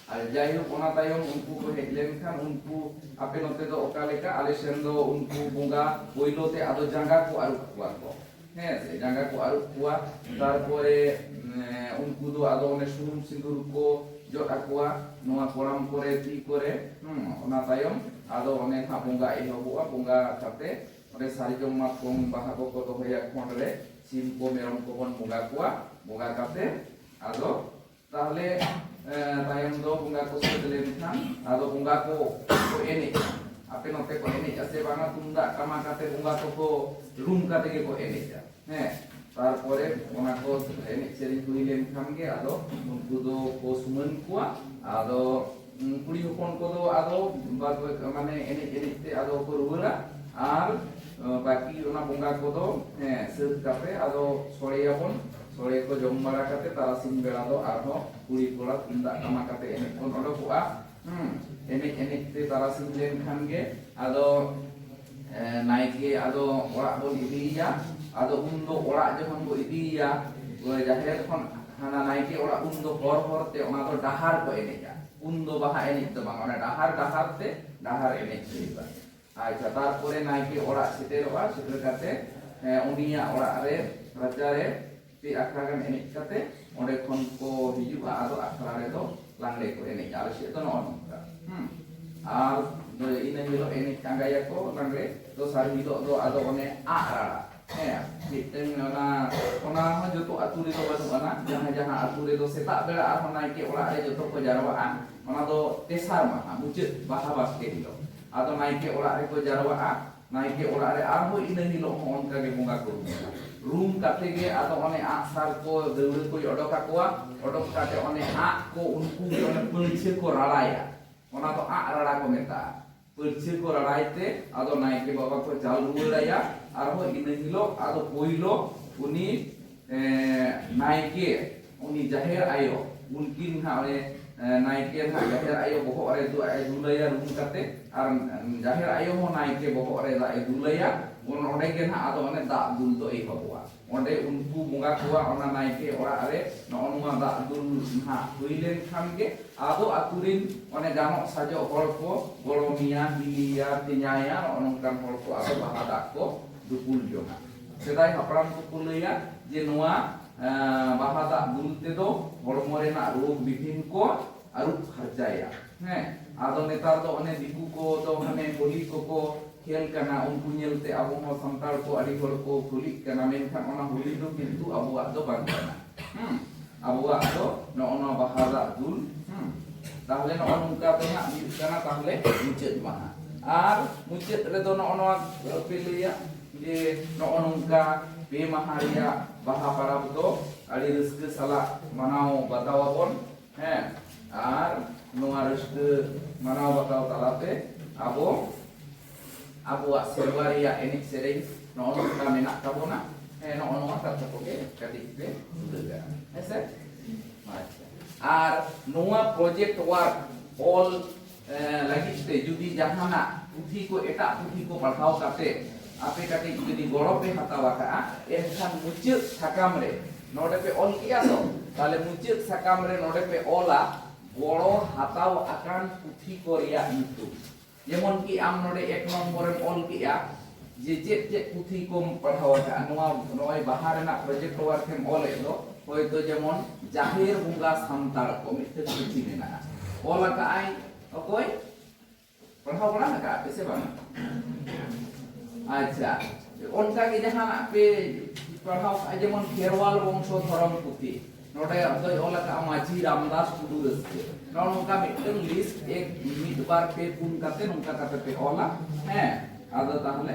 ᱟᱨ ᱡᱟᱭᱦᱳᱠ ᱚᱱᱟ ᱛᱟᱭᱚᱢ ᱩᱱᱠᱩ ᱠᱚ ᱦᱮᱡ ᱞᱮᱱᱠᱷᱟᱱ ᱩᱱᱠᱩ ᱟᱯᱮ ᱱᱚᱛᱮ ᱫᱚ ᱚᱠᱟ ᱞᱮᱠᱟ ᱟᱞᱮ ᱥᱮᱱ ᱫᱚ ᱩᱱᱠᱩ ᱵᱚᱸᱜᱟ ᱯᱳᱭᱞᱳ ᱛᱮ ᱟᱫᱚ ᱡᱟᱸᱜᱟ ᱠᱚ ᱟᱹᱨᱩᱵ ᱠᱚᱣᱟ ᱠᱚ ᱦᱮᱸ ᱥᱮ ᱡᱟᱸᱜᱟ ᱠᱚ ᱟᱹᱨᱩᱵ ᱠᱚᱣᱟ ᱛᱟᱨᱯᱚᱨᱮ ᱩᱱᱠᱩ ᱫᱚ ᱟᱫᱚ ᱚᱱᱮ ᱥᱩᱱᱩᱢ ᱥᱤᱸᱫᱩᱨ ᱠᱚ ᱡᱚᱫ ᱟᱠᱚᱣᱟ ᱱᱚᱣᱟ ᱠᱚᱲᱟᱢ ᱠᱚᱨᱮ ᱛᱤ ᱠᱚᱨᱮ ᱚᱱᱟ ᱛᱟᱭᱚᱢ ᱟᱫᱚ ᱚᱱᱮ ᱦᱟᱸᱜ ᱵᱚᱸᱜᱟ ᱮᱦᱚᱵᱚᱜᱼᱟ ᱵᱚᱸᱜᱟ ᱠᱟᱛᱮ ᱚᱸᱰᱮ ᱥᱟᱨᱡᱚᱢ ᱢᱟᱛᱠᱚᱢ ᱵᱟᱦᱟ ᱠᱚᱠᱚ ᱫᱚᱦᱚᱭᱟ ᱠᱷᱚᱸᱰ ᱨᱮ ᱥᱤᱢ ᱠᱚ ᱢᱮᱨᱚᱢ ᱠᱚᱵᱚᱱ ᱵᱚᱸᱜᱟ ᱠᱚᱣᱟ ᱵᱚᱸᱜᱟ ᱠᱟᱛᱮ ᱟᱫᱚ ᱛᱟᱦᱞᱮ ᱛᱟᱭᱚᱢ ᱫᱚ ᱵᱚᱸᱜᱟ ᱠᱚ ᱥᱟᱹᱛ ᱞᱮᱱᱠᱷᱟᱱ ᱟᱫᱚ ᱵᱚᱸᱜᱟ ᱠᱚ ᱠᱚ ᱮᱱᱮᱡ ᱟᱯᱮ ᱱᱚᱛᱮ ᱠᱚ ᱮᱱᱮᱡ ᱟᱥᱮ ᱵᱟᱝᱟ ᱛᱩᱢᱫᱟᱜ ᱴᱟᱢᱟᱠ ᱟᱛᱮ ᱵᱚᱸᱜᱟ ᱠᱚᱠᱚ ᱨᱩᱢ ᱠᱟᱛᱮ ᱜᱮᱠᱚ ᱮᱱᱮᱡᱟ ᱦᱮᱸ ᱛᱟᱨᱯᱚᱨᱮ ᱚᱱᱟ ᱠᱚ ᱮᱱᱮᱡ ᱥᱮᱨᱮᱧ ᱦᱩᱭ ᱞᱮᱱᱠᱷᱟᱱ ᱜᱮ ᱟᱫᱚ ᱩᱱᱠᱩ ᱫᱚ ᱠᱚ ᱥᱩᱢᱟᱹᱱ ᱠᱚᱣᱟ ᱟᱫᱚ ᱠᱩᱲᱤ ᱦᱚᱯᱚᱱ ᱠᱚᱫᱚ ᱟᱫᱚ ᱢᱟᱱᱮ ᱮᱱᱮᱡ ᱮᱱᱮᱡ ᱛᱮ ᱟᱫᱚ ᱠᱚ ᱨᱩᱣᱟᱹᱲᱟ ᱟᱨ ᱵᱟᱹᱠᱤ ᱚᱱᱟ ᱵᱚᱸᱜᱟ ᱠᱚᱫᱚ ᱦᱮᱸ ᱥᱟᱹᱛ ᱠᱟᱛᱮ ᱟᱫᱚ ᱥᱚᱲᱮᱭᱟᱵᱚᱱ ᱥᱚᱲᱮ ᱠᱚ ᱡᱚᱢ ᱵᱟᱲᱟ ᱠᱟᱛᱮ ᱛᱟᱨᱟᱥᱤᱧ ᱵᱮᱲᱟ ᱫᱚ ᱟᱨᱦᱚᱸ ᱠᱩᱲᱤ ᱠᱚᱲᱟ ᱛᱩᱢᱫᱟᱜ ᱴᱟᱢᱟᱠ ᱠᱟᱛᱮ ᱮᱱᱮᱡ ᱵᱚᱱ ᱚᱰᱚᱠᱚᱜᱼᱟ ᱦᱩᱸ ᱮᱱᱮᱡ ᱮᱱᱮᱡ ᱛᱮ ᱛᱟᱨᱟᱥᱤᱧ ᱞᱮᱱᱠᱷᱟᱱ ᱜᱮ ᱟᱫᱚ ᱱᱟᱭᱠᱮ ᱟᱫᱚ ᱚᱲᱟᱜ ᱵᱚᱱ ᱤᱫᱤᱭᱮᱭᱟ ᱟᱫᱚ ᱩᱱ ᱫᱚ ᱚᱲᱟᱜ ᱡᱚᱠᱷᱚᱱ ᱵᱚ ᱤᱫᱤᱭᱮᱭᱟ ᱡᱟᱦᱮᱨ ᱠᱷᱚᱱ ᱦᱟᱱᱟ ᱱᱟᱭᱠᱮ ᱚᱲᱟᱜ ᱩᱱ ᱫᱚ ᱦᱚᱨ ᱦᱚᱨ ᱛᱮ ᱚᱱᱟ ᱫᱚ ᱰᱟᱦᱟᱨ ᱠᱚ ᱮᱱᱮᱡᱟ ᱩᱱ ᱫᱚ ᱵᱟᱦᱟ ᱮᱱᱮᱡ ᱫᱚ ᱵᱟᱝ ᱚᱱᱟ ᱰᱟᱦᱟᱨ ᱰᱟᱦᱟᱨ ᱛᱮ ᱰᱟᱦᱟᱨ ᱮᱱᱮᱡ ᱦᱩᱭᱩᱜᱼᱟ ᱟᱪᱪᱷᱟ ᱛᱟᱨᱯᱚᱨᱮ ᱱᱟᱭᱠᱮ ᱚᱲᱟᱜ ᱥᱮᱴᱮᱨᱚᱜᱼᱟ ᱥᱮᱴᱮᱨ ᱠᱟᱛᱮ ᱩᱱᱤᱭᱟᱜ ᱚᱲᱟᱜ ᱨᱮ ᱨᱟᱪᱟ ᱨᱮ ᱯᱮ ᱟᱠᱷᱲᱟ ᱜᱟᱱ ᱮᱱᱮᱡ ᱠᱟᱛᱮ ᱚᱸᱰᱮ ᱠᱷᱚᱱ ᱠᱚ ᱦᱤᱡᱩᱜᱼᱟ ᱟᱫᱚ ᱟᱠᱷᱲᱟ ᱨᱮᱫᱚ ᱞᱟᱜᱽᱲᱮ ᱠᱚ ᱮᱱᱮᱡ ᱟᱞᱮ ᱥᱮᱫ ᱫᱚ ᱱᱚᱜᱼᱚ ᱱᱚᱝᱠᱟ ᱦᱩᱸ ᱟᱨ ᱤᱱᱟᱹ ᱦᱤᱞᱳᱜ ᱮᱱᱮᱡ ᱟᱸᱜᱟᱭᱟᱠᱚ ᱞᱟᱜᱽᱲᱮ ᱫᱚᱥᱟᱨ ᱦᱤᱞᱳᱜ ᱫᱚ ᱟᱫᱚ ᱚᱱᱮ ᱟᱜ ᱨᱟᱲᱟ ᱦᱮᱸ ᱢᱤᱫᱴᱟᱝ ᱚᱱᱟ ᱚᱱᱟ ᱦᱚᱸ ᱡᱚᱛᱚ ᱟᱹᱛᱩ ᱨᱮᱫᱚ ᱵᱟᱹᱱᱩᱜ ᱟᱱᱟ ᱡᱟᱦᱟᱸ ᱡᱟᱦᱟᱸ ᱟᱹᱛᱩ ᱨᱮᱫᱚ ᱥᱮᱛᱟᱜ ᱵᱮᱲᱟ ᱟᱨᱦᱚᱸ ᱱᱟᱭᱠᱮ ᱚᱲᱟᱜ ᱨᱮ ᱡᱚᱛᱚ ᱠᱚ ᱡᱟᱨᱣᱟᱜᱼᱟ ᱚᱱᱟ ᱫᱚ ᱛᱮᱥᱟᱨ ᱢᱟᱦᱟ ᱢᱩᱪᱟᱹᱫ ᱵᱟᱦᱟ ᱵᱟᱥᱠᱮ ᱦᱤᱞᱳᱜ ᱟᱫᱚ ᱱᱟᱭᱠᱮ ᱚᱲᱟᱜ ᱨᱮᱠᱚ ᱡᱟᱨᱣᱟᱜᱼᱟ ᱱᱟᱭᱠᱮ ᱚᱲᱟᱜ ᱨᱮ ᱟᱨᱦᱚᱸ ᱤᱱᱟᱹ ᱦᱤᱞᱚᱜ ᱦᱚᱸ ᱚᱱᱠᱟ ᱜᱮ ᱵᱚᱸᱜᱟ ᱠᱚ ᱨᱩᱢᱟ ᱨᱩᱢ ᱠᱟᱛᱮ ᱜᱮ ᱟᱫᱚ ᱚᱱᱮ ᱟᱜ ᱥᱟᱨ ᱠᱚ ᱫᱟᱹᱣᱲᱟᱹ ᱠᱚᱭ ᱚᱰᱚᱠ ᱟᱠᱚᱣᱟ ᱚᱰᱚᱠ ᱠᱟᱛᱮ ᱚᱱᱮ ᱟᱜ ᱠᱚ ᱩᱱᱠᱩ ᱜᱮ ᱚᱱᱮ ᱯᱟᱹᱲᱪᱷᱟᱹ ᱠᱚ ᱨᱟᱲᱟᱭᱟ ᱚᱱᱟ ᱫᱚ ᱟᱜ ᱨᱟᱲᱟ ᱠᱚ ᱢᱮᱛᱟᱜᱼᱟ ᱯᱟᱹᱲᱪᱷᱟᱹ ᱠᱚ ᱨᱟᱲᱟᱭ ᱛᱮ ᱟᱫᱚ ᱱᱟᱭᱠᱮ ᱵᱟᱵᱟ ᱠᱚ ᱪᱟᱞ ᱨᱩᱣᱟᱹᱲᱟᱭᱟ ᱟᱨᱦᱚᱸ ᱤᱱᱟᱹ ᱦᱤᱞᱚᱜ ᱟᱫᱚ ᱯᱳᱭᱞᱳ ᱩᱱᱤ ᱱᱟᱭᱠᱮ ᱩᱱᱤ ᱡᱟᱦᱮᱨ ᱟᱭᱳ ᱩᱱᱠᱤᱱ ᱦᱟᱸᱜ ᱚᱱᱮ ᱱᱟᱭᱠᱮ ᱦᱟᱸᱜ ᱡᱟᱦᱮᱨ ᱟᱭᱳ ᱵᱚᱦᱚᱜ ᱨᱮ ᱫᱟᱜ ᱮ ᱫᱩᱞᱟᱭᱟ ᱨᱩᱢ ᱠᱟᱛᱮ ᱟᱨ ᱡᱟᱦᱮᱨ ᱟᱭᱳ ᱦᱚᱸ ᱱᱟᱭᱠᱮ ᱵᱚᱦᱚᱜ ᱨᱮ ᱫᱟᱜ ᱮ ᱫᱩᱞᱟᱭᱟ ᱩᱱ ᱚᱸᱰᱮ ᱜᱮ ᱦᱟᱸᱜ ᱟᱫᱚ ᱚᱱᱮ ᱫᱟᱜ ᱫᱩᱞ ᱫᱚ ᱮᱦᱚᱵᱚᱜᱼᱟ ᱚᱸᱰᱮ ᱩᱱᱠᱩ ᱵᱚᱸᱜᱟ ᱠᱚᱣᱟ ᱚᱱᱟ ᱱᱟᱭᱠᱮ ᱚᱲᱟᱜ ᱨᱮ ᱱᱚᱜᱼᱚ ᱱᱚᱣᱟ ᱫᱟᱜ ᱫᱩᱞ ᱦᱟᱸᱜ ᱦᱩᱭ ᱞᱮᱱ ᱠᱷᱟᱱ ᱜᱮ ᱟᱫᱚ ᱟᱛᱳ ᱨᱤᱱ ᱚᱱᱮ ᱜᱟᱱᱚᱜ ᱥᱟᱡᱚᱜ ᱦᱚᱲ ᱠᱚ ᱜᱚᱲᱚᱢᱤᱭᱟ ᱦᱤᱞᱤᱭᱟ ᱛᱮᱧᱟᱭᱟ ᱱᱚᱜᱼᱚ ᱱᱚᱝᱠᱟᱱ ᱦᱚᱲ ᱠᱚ ᱟᱫᱚ ᱵᱟᱦᱟ ᱫᱟᱜ ᱠᱚ ᱫᱩᱯᱩᱞ ᱡᱚᱝᱟ ᱥᱮᱫᱟᱭ ᱦᱟᱯᱲᱟᱢ ᱠᱚᱠᱚ ᱞᱟᱹᱭᱟ ᱡᱮ ᱱᱚᱣᱟ ᱵᱟᱦᱟ ᱫᱟᱜ ᱫᱩᱞ ᱛᱮᱫᱚ ᱦᱚᱲᱢᱚ ᱨᱮᱱᱟᱜ ᱨᱳᱜᱽ ᱵᱤᱜᱷᱤᱱ ᱠᱚ ᱟᱹᱨᱩᱵ ᱯᱷᱟᱨᱪᱟᱭᱟ ᱦᱮᱸ ᱟᱫᱚ ᱱᱮᱛᱟᱨ ᱫᱚ ᱚᱱᱮ ᱫᱤᱠᱩ ᱠᱚ ᱫᱚ ᱦᱟᱱᱮ ᱦᱳᱞᱤ ᱠᱚᱠᱚ ᱠᱷᱮᱞ ᱠᱟᱱᱟ ᱩᱱᱠᱩ ᱧᱮᱞᱛᱮ ᱟᱵᱚ ᱦᱚᱸ ᱥᱟᱱᱛᱟᱲ ᱠᱚ ᱟᱹᱰᱤ ᱦᱚᱲ ᱠᱚ ᱠᱩᱞᱤᱜ ᱠᱟᱱᱟ ᱢᱮᱱᱠᱷᱟᱱ ᱚᱱᱟ ᱦᱳᱞᱤ ᱫᱚ ᱠᱤᱱᱛᱩ ᱟᱵᱚᱣᱟᱜ ᱫᱚ ᱵᱟᱝ ᱠᱟᱱᱟ ᱦᱮᱸ ᱟᱵᱚᱣᱟᱜ ᱫᱚ ᱱᱚᱜᱼᱚ ᱱᱚᱣᱟ ᱵᱟᱦᱟ ᱫᱟᱜ ᱫᱩᱞ ᱦᱮᱸ ᱛᱟᱦᱞᱮ ᱱᱚᱜᱼᱚ ᱱᱚᱝᱠᱟ ᱫᱚ ᱦᱟᱸᱜ ᱦᱩᱭᱩᱜ ᱠᱟᱱᱟ ᱛᱟᱦᱞᱮ ᱢᱩᱪᱟᱹᱫ ᱢᱟᱦᱟ ᱟᱨ ᱢᱩᱪᱟᱹᱫ ᱨᱮᱫᱚ ᱱᱚᱜᱼᱚ ᱱᱚᱣᱟ ᱯᱮ ᱞᱟᱹᱭᱟ ᱡᱮ ᱱᱚᱜᱼᱚ ᱱᱚᱝᱠᱟ ᱯᱮ ᱢᱟᱦᱟ ᱨᱮᱭᱟᱜ ᱵᱟᱦᱟ ᱯᱟᱨᱟᱵᱽ ᱫᱚ ᱟᱹᱰᱤ ᱨᱟᱹᱥᱠᱟᱹ ᱥᱟᱞᱟᱜ ᱢᱟᱱᱟᱣ ᱵᱟᱛᱟᱣ ᱟᱵᱚᱱ ᱦᱮᱸ ᱟᱨ ᱱᱚᱣᱟ ᱨᱟᱹᱥᱠᱟᱹ ᱢᱟᱱᱟᱣ ᱵᱟᱛᱟᱣ ᱛᱟᱞᱟᱛᱮ ᱟᱵᱚ ᱟᱵᱚᱣᱟᱜ ᱥᱮᱨᱣᱟ ᱨᱮᱭᱟᱜ ᱮᱱᱮᱡ ᱥᱮᱨᱮᱧ ᱱᱚᱜᱼᱚ ᱱᱚᱝᱠᱟ ᱢᱮᱱᱟᱜ ᱛᱟᱵᱚᱱᱟ ᱦᱮᱸ ᱱᱚᱜᱼᱚ ᱱᱚᱣᱟ ᱠᱟᱛᱷᱟ ᱠᱚᱜᱮ ᱠᱟᱹᱴᱤᱡ ᱯᱮ ᱩᱞᱟᱹ ᱠᱟᱜᱼᱟ ᱦᱮᱸ ᱥᱮ ᱟᱪᱪᱷᱟ ᱟᱨ ᱱᱚᱣᱟ ᱯᱨᱚᱡᱮᱠᱴ ᱣᱟᱨᱠ ᱚᱞ ᱞᱟᱹᱜᱤᱫ ᱛᱮ ᱡᱩᱫᱤ ᱡᱟᱦᱟᱱᱟᱜ ᱯᱩᱛᱷᱤ ᱠᱚ ᱮᱴᱟᱜ ᱯᱩᱛᱷᱤ ᱠᱚ ᱯᱟᱲᱦᱟᱣ ᱠᱟᱛᱮ ᱟᱯᱮ ᱠᱟᱹᱴᱤᱡ ᱡᱩᱫᱤ ᱜᱚᱲᱚ ᱯᱮ ᱦᱟᱛᱟᱣ ᱟᱠᱟᱜᱼᱟ ᱮᱱᱠᱷᱟᱱ ᱢᱩᱪᱟᱹᱫ ᱥᱟᱠᱟᱢ ᱨᱮ ᱱᱚᱰᱮ ᱯᱮ ᱚᱞ ᱠᱮᱜᱼᱟ ᱛᱚ ᱛᱟᱦᱞᱮ ᱢᱩᱪᱟᱹᱫ ᱥᱟᱠᱟᱢ ᱨᱮ ᱱᱚᱰᱮ ᱯᱮ ᱚᱞᱟ ᱜᱚᱲᱚ ᱦᱟᱛᱟᱣ ᱟᱠᱟᱱ ᱯᱩᱛᱷᱤ ᱠᱚ ᱨᱮᱭᱟᱜ ᱧᱩᱛᱩᱢ ᱡᱮᱢᱚᱱ ᱠᱤ ᱟᱢ ᱱᱚᱰᱮ ᱮᱠ ᱱᱚᱢᱵᱚᱨᱮᱢ ᱚᱞ ᱠᱮᱜᱼᱟ ᱡᱮ ᱪᱮᱫ ᱪᱮᱫ ᱯᱩᱛᱷᱤ ᱠᱚᱢ ᱯᱟᱲᱦᱟᱣ ᱟᱠᱟᱫᱼᱟ ᱱᱚᱣᱟ ᱱᱚᱜᱼᱚᱭ ᱵᱟᱦᱟ ᱨᱮᱱᱟᱜ ᱯᱨᱚᱡᱮᱠᱴ ᱣᱟᱨᱠ ᱮᱢ ᱚᱞᱮᱫ ᱫᱚ ᱦᱚᱭᱛᱚ ᱡᱮᱢᱚᱱ ᱡᱟᱦᱮᱨ ᱵᱚᱸᱜᱟ ᱥᱟᱱᱛᱟᱲ ᱠᱚ ᱢᱤᱫᱴᱮᱱ ᱯᱩᱛᱷᱤ ᱢᱮᱱᱟᱜᱼᱟ ᱚᱞ ᱟᱠᱟᱫᱼᱟᱭ ᱚᱠᱚᱭ ᱯᱟᱲᱦᱟᱣ ᱵᱟᱲᱟ ᱟᱠᱟᱫᱼᱟ ᱯᱮ ᱥᱮ ᱵᱟᱝ ᱟᱪᱪᱷᱟ ᱚᱱᱠᱟ ᱜᱮ ᱡᱟᱦᱟᱱᱟᱜ ᱯᱮ ᱯᱟᱲᱦᱟᱣ ᱠᱟᱜᱼᱟ ᱡᱮᱢᱚᱱ ᱠᱷᱮᱨᱣᱟᱞ ᱵᱚᱝᱥᱚ ᱫᱷᱚᱨᱚᱢ ᱯᱩᱛᱷᱤ ᱱᱚᱰᱮ ᱫᱚᱭ ᱚᱞ ᱟᱠᱟᱫᱼᱟ ᱢᱟᱹᱡᱷᱤ ᱨᱟᱢᱫᱟᱥ ᱴᱩᱰᱩ ᱨᱟᱹᱥᱠᱟᱹ ᱱᱚᱜᱼᱚ ᱱᱚᱝᱠᱟ ᱢᱤᱫᱴᱮᱱ ᱞᱤᱥᱴ ᱮᱠ ᱢᱤᱫ ᱵᱟᱨ ᱯᱮ ᱯᱩᱱ ᱠᱟᱛᱮ ᱱᱚᱝᱠᱟ ᱠᱟᱛᱮ ᱯᱮ ᱚᱞᱟ ᱦᱮᱸ ᱟᱫᱚ ᱛᱟᱦᱚᱞᱮ